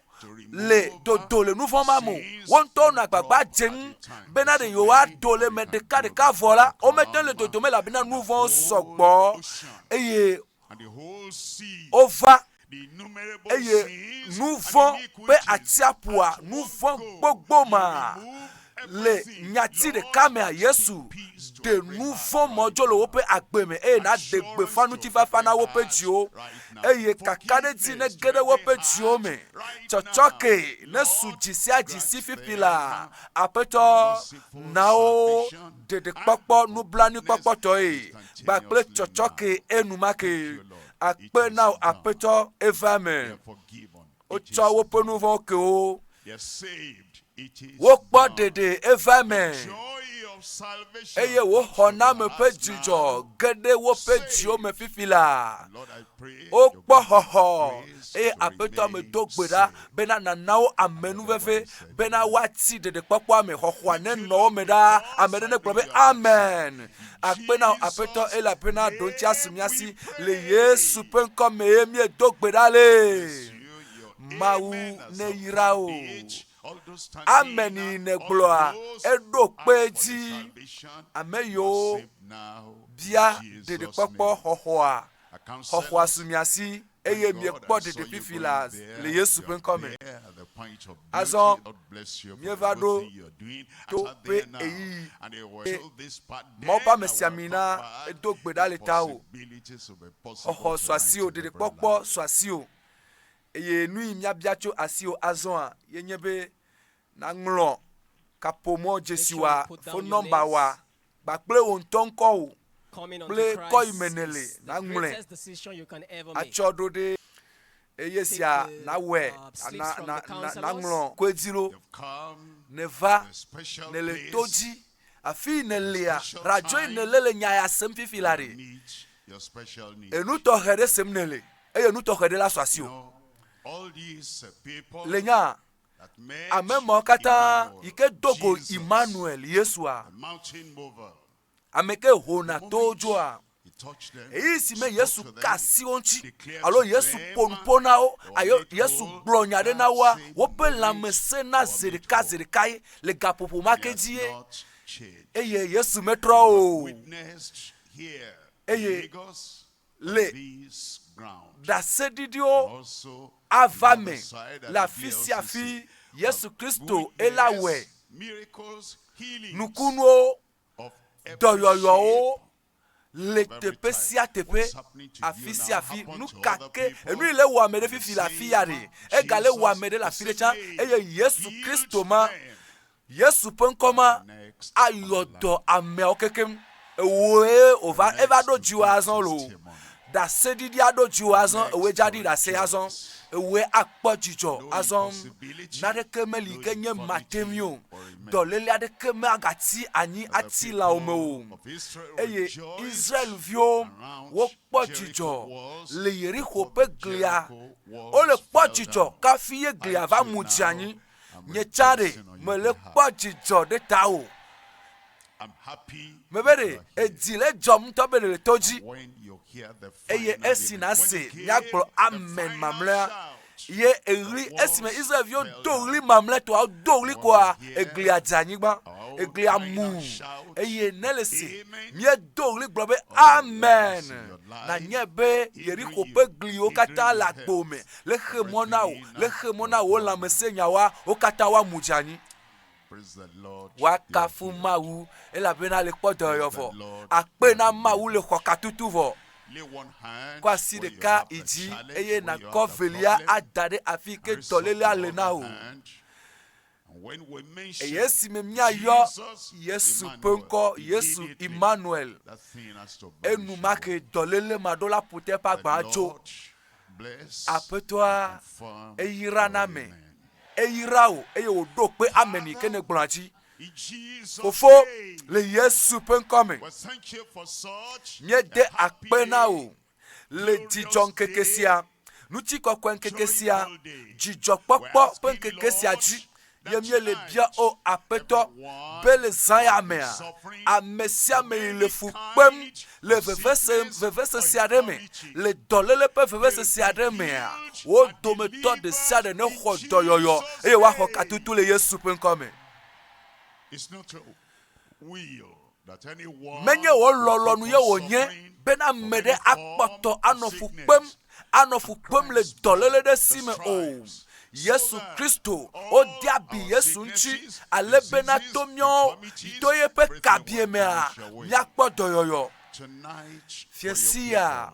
le dodo le nu vɔ̃ ma me wo ŋutɔwo nɔ agbagba dze ŋu bena ɖe yewoado le me ɖeka ɖeka vɔ la womete le dodo me elabena nu vɔ̃wo sɔgbɔ eye wova eye nu vɔ̃ ƒe atsiaƒua nu vɔ̃ gbogbo ma Le nyati ɖeka mea, Yesu ɖe nu vɔ̃ mɔ dzo le woƒe agbe me eye nàɖe gbeƒã ŋutifafa na woƒe dziwo, eye kakaɖedzi nege ɖe woƒe dziwo me. Tsɔtsɔke nesu dzi sia dzi si fifi la. Aƒetɔ, na wo ɖeɖekpɔkpɔ nublanuikpɔkpɔtɔe kpakple tsɔtsɔke enumake. Akpe na wò Aƒetɔ, eva eme. Wotsɔ woƒe nu vɔ̃wo ke wo. Wokpɔ ɖeɖe eva eme. Eye woxɔ name ƒe dzidzɔ geɖe woƒe dziwo me fifi la. Wokpɔ xɔxɔ eye aƒetɔ me do gbe ɖa bena nana wo amenuveve Bena woati ɖeɖekpɔkpɔa me xɔxɔa ne nɔ wo me ɖa. Ame ɖe negblɔ be amen. Akpe na aƒetɔ elabena ɖoŋtia si mia si le Yesu ƒe ŋkɔ mee miedo gbe ɖa le. Mawu neyra wò. Amen yi negblɔa eɖo kpe edzi. Ame yiwo bia ɖeɖekpɔkpɔ xɔxɔa xɔxɔa su mia si. eye miekpɔ ɖeɖefifi la le Yesu ƒe ŋkɔ me. Azɔ mieva ɖo to ƒe ɣeyiɣi, eye Mawu ƒe amesiamina do gbe ɖa le tawò. Xɔxɔ sɔ asiwò, ɖeɖekpɔkpɔ sɔ asiwò, eye nu yi míabia tso asiwò azɔa ye nye be nàŋlɔ kaƒomɔ dzesiwa, fon nɔmbawa kpakple wò ŋutɔ ŋkɔwò kple kɔ yi me nèle naŋlɔe atsɔ ɖo ɖe eye sia nawɔe naŋlɔ koedzi ɖo nèva nèle to dzi afi yi nèlea radzoe nèle le nya ya sem fifi la ɖe enu tɔxɛ ɖe sem nèle eye nu tɔxɛ ɖe la sɔ asi o le nya Ame mawo katã yi ke do go Immanuel, Yesua, ame ke hona towo dzoa, eyi si me yesu ka asi wo ŋuti alo yesu ƒo nu ƒo na wo ayo yesu gblɔ nya ɖe na woa woƒe lãmesẽ na zi ɖeka zi ɖekae le gaƒoƒo ma ke dzie eye yesu metrɔ o eye le ɖaseɖiɖiwo ava me le afisiafi. Yesu Kristo ye la wɔe. Nukunuwo, dɔyɔyɔwo le teƒe sia teƒe, afisiafi. Nukake, enu yi le wɔ ame ɖe fifi le afiya ɖe, ega le wɔ ame ɖe le afi ɖe tsã. Eye Yesu Kristo ma Yesu ƒe ŋkɔ ma ayɔ dɔ ameawo kekeŋ. Ewoe wòva eva ɖo dziwò azɔ lo. Ɖaseɖiɖi aɖo dziwò azɔ, ewoe dzaɖi ɖase azɔ, ewoe akpɔ dzidzɔ azɔ. Naneke meli ke nye mate ŋui o. Dɔléle aɖeke magati anyi ati lãwo me o. Eye Israel-viwo wokpɔ dzidzɔ le Yeriko ƒe glia. Wole kpɔ dzidzɔ kafi ye glia va mu dze anyi. nye tsa ɖe mele kpɔ dzidzɔ ɖe tawò. Mebe ɖe edzi le dzɔm ŋutɔ be le to dzi. Eye esi nàse míagblɔ amen mamlɛa, ye eɣli esime Israelviwo do ɣli mamlɛtɔa do ɣli koa eglia dze anyigba eglia mu eye ne le si míedo ɣli gblɔ be amen nanye be Yeriko ƒe gliwo katã le agbo me le xe mɔ na wò, le xe mɔ na wò lãmesẽnyawoa, wo katã woamu dze anyi. Woakafu Mawu, elabena le kpɔ dɔyɔyɔ vɔ. Akpe na Mawu le xɔ katutu vɔ. Kɔ asi ɖeka yi dzi, eye nakɔ velia ada ɖe afi ke dɔlélea le na wò. Eye esime míayɔ Yesu ƒe ŋkɔ, Yesu Imanuel, enumake dɔléle maɖola ƒote ƒe agba dzo. Aƒetɔa, eyra na ame, eyra wò eye wòɖo kpe ame ni ke nègblɔa dzi. Fofo, le Yesu ƒe ŋkɔ me, míede akpe na wò. Le dzidzɔŋkeke sia, ŋutikɔkɔeŋkeke sia, dzidzɔkpɔkpɔ ƒe ŋkeke sia dzi ye míele bia, O Aƒetɔ, be le zã ya mea, ame sia ame yi le fu kpem le vevese, vevese sia ɖe me, le dɔléle ƒe vevese sia ɖe mea, wo dometɔ ɖe sia ɖe nexɔ dɔyɔyɔ eye woaxɔ katutu le Yesu ƒe ŋkɔ me. Menye wò lɔlɔ̃nu ye wònye be ame aɖe akpɔtɔ anɔ fu kpem, anɔ fu kpem le dɔléle ɖe si me o. Yesu Kristo, wode abi Yesu ŋuti ale bena to míawo, to yeƒe kabiemea, míakpɔ dɔyɔyɔ. Fiesiaa.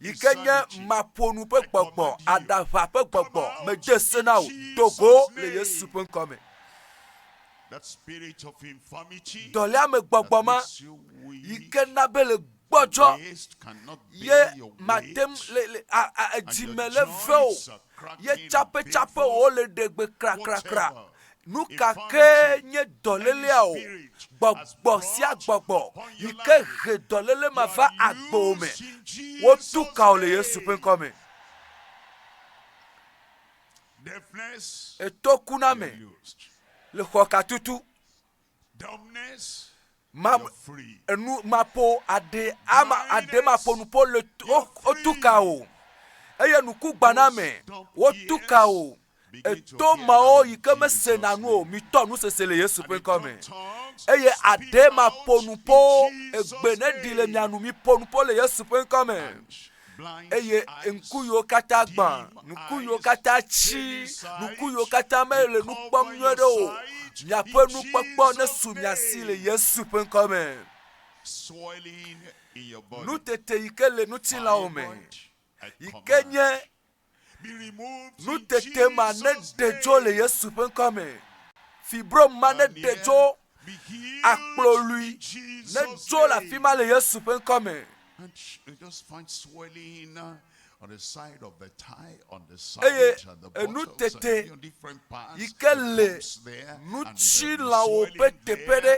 yi ke nye maƒonu ƒe gbɔgbɔ aɖaʋa ƒe gbɔgbɔ medze se na wò do go le yesu ƒe ŋkɔ me dɔléame gbɔgbɔ ma yi ke na be le gbɔdzɔ ye mate edzime le ve o ye tsaƒetsaƒewo le ɖegbe krakrakra Nu ka kee nye dɔlélea o, gbɔgbɔ sia gbɔgbɔ yi ke he dɔlélé ma va agbewo me, wotu ka wo le Yesu ƒe ŋkɔ me. Eto ku na me le xɔkatutu Mam enu maƒo aɖe ama aɖe maƒo nu ƒo le wotu ka o eye nuku gbaname wotu ka o eto mawo yi ke mesena nu o mitɔ nu sese le yesu ƒe ŋkɔ me eye aɖe maƒo nu ƒo egbe ne ɖi le mia nu miƒo nu ƒo le yesu ƒe ŋkɔ me eye ŋku yiwo katã gbã ŋku yiwo katã tsi ŋku yiwo katã mele nu kpɔm nyuie ɖe o miaƒe nukpɔkpɔ nesu mia si le yesu ƒe ŋkɔ me nutete yi ke le ŋutilãwo me yi ke nye Nutete ma neɖe dzo le Yesu ƒe ŋkɔ me. Fibrom ma neɖe dzo. Akplolui nedzo le afi ma le Yesu ƒe ŋkɔ me. Eye enutete yi ke le ŋutilãwo ƒe teƒe ɖe.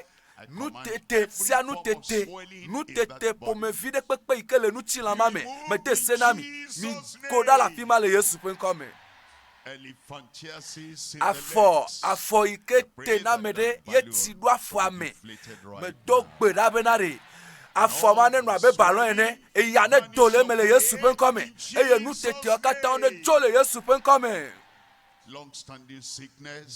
Nutete sia nutete, nutete ƒomevi ɖe kpekpe yi ke le ŋutilã ma me, mede se na mi, migo ɖa le afi ma le Yesu ƒe ŋkɔ me. Afɔ, afɔ yi ke te na ame ɖe ye ti ɖo afɔa me. Medo gbe ɖa bena ɖe afɔ ma nenɔ abe balɔn ene, eya nedo le eme le Yesu ƒe ŋkɔ me, eye nuteteawo katã nedzo le Yesu ƒe ŋkɔ me.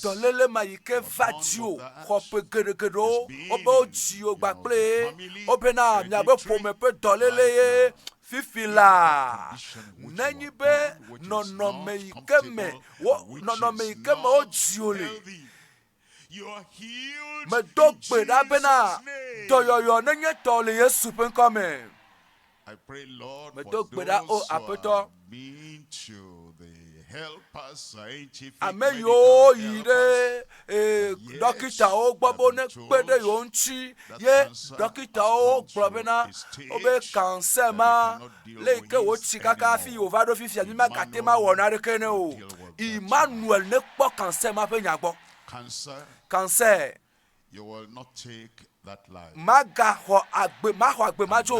Dɔléle ma yi ke va dziwò xɔ ƒe geɖegeɖewo, wobe wo dzi wò gba kple ye, wobe na mia be ƒome ƒe dɔléle ye fifi la. Ne nyi be nɔnɔme yi ke me wo, nɔnɔme yi ke me wo dzi wò le, Medo gbe ɖa bena dɔyɔyɔ nenye tɔ le Yesu ƒe ŋkɔ me. Medo gbe ɖa o Aƒetɔ. Ame yiwo yi ɖe eh, ɖɔkitawo gbɔ be nekpe ɖe yewo ŋuti ye ɖɔkitawo gblɔ bena wobe kansɛ ma Le yi ke wòtsi kaka hafi wòva ɖo fifia, mi magate ŋu awɔ naneke ne o. Emmanuel nekpɔ cancer ma ƒe nya gbɔ. Cancer magaxɔ agbe, maxɔ agbe madzo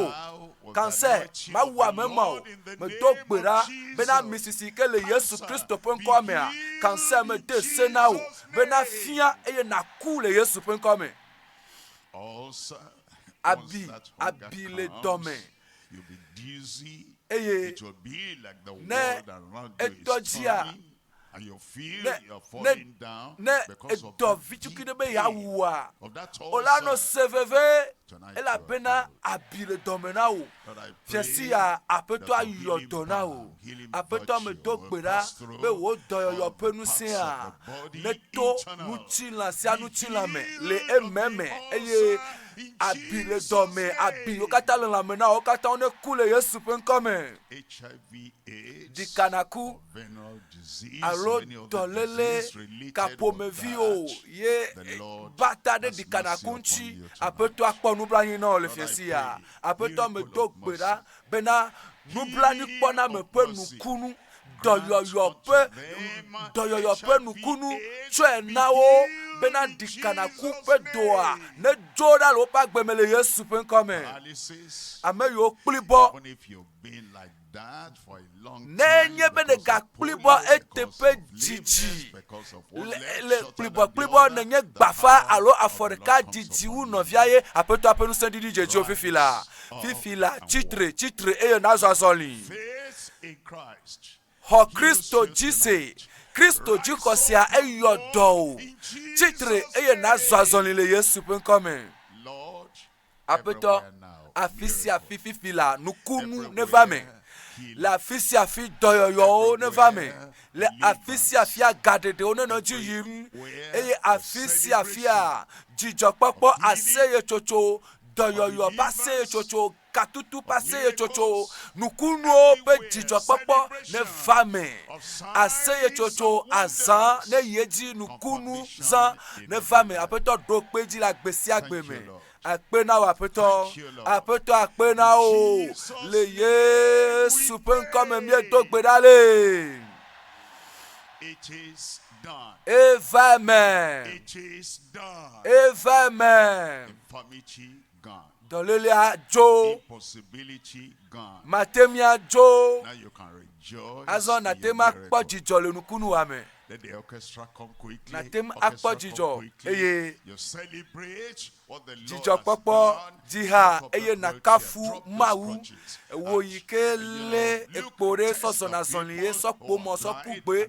o. Cancer mawu ame ma o. Medo gbe ɖa bena ami sisi yi ke le Yesu Kristo ƒe ŋkɔa mea, cancer mede se na wò bena fia eye naku le Yesu ƒe ŋkɔa me. Abi, abi le dɔme Eye ne edɔ dzia, ne, ne, ne edɔ vitukui ɖe be yeawu wòa, wò la anɔ se veve, elabena abi le dɔme na wò. Fiasi ya, Aƒetɔ ayɔ dɔ na wò. Aƒetɔ medo gbe ɖa be wò dɔyɔyɔ ƒe ŋusẽa neto ŋutilã sia ŋutilã me le ememe, eye Abi le dɔ me, abi wo katã le lãme na wo katã neku le Yesu ƒe ŋkɔ me. Ɖika naku alo dɔlele kaƒomevi o ye bata ɖe ɖika naku ŋuti. Aƒetɔa kpɔ nublanui na wò le fiasia. Aƒetɔ medo gbe ɖa Bena nublanuikpɔname ƒe nukunu, dɔyɔyɔ ƒe dɔyɔyɔ ƒe nukunu tsɔe na wo bena ɖikanaku ƒe doa nedzo ɖa le woƒe agbe me le Yesu ƒe ŋkɔ me. Ame yiwo kpli bɔ Ne enye be ɖegakpuibɔ eteƒe didi le kpuibɔkpuibɔ nenye gbafa alo afɔ ɖeka didi wu nɔvia ye aƒetɔa ƒe ŋusẽ ɖiɖi dze dziwò fifi la. Fifi la, tsitre, tsitre eye nazɔ azɔli. Xɔ Kristo dzi se. Kristo dzixɔ sia eyɔ dɔ wò. Tsitre eye nazɔ azɔli le Yesu ƒe ŋkɔ me. Aƒetɔ, afi sia afi fifi la, nukunu neva me. Le afi sia afi dɔyɔyɔwo neva me. Le afi sia afi agaɖeɖewo nenɔ dzi yim. Eye afi sia afia dzidzɔkpɔkpɔ, aseyetsotso, dɔyɔyɔ ƒe aseyetsotso, katutu ƒe aseyetsotso, nukunuwo ƒe dzidzɔkpɔkpɔ neva me. Aseyetsotso azã neyi edzi, nukunu zã neva me. Aƒetɔ ɖo kpe dzi le agbe sia agbe me. Akpe na wò aƒetɔ. Aƒetɔ akpe na wò. Le Yesu ƒe ŋkɔ me míedo gbe ɖa le. Eva eme. Eva eme. Dɔlélea dzo. Mate mia dzo. Azɔ nate ma kpɔ dzidzɔ le nukunu wa me. nàte ŋu akpɔ dzidzɔ eye dzidzɔkpɔkpɔ dzi ha eye nàkafu Mawu. Wò yi ke lé ekpo ɖe sɔ zɔna zɔlie, sɔ kpo mɔ, sɔ ku gbe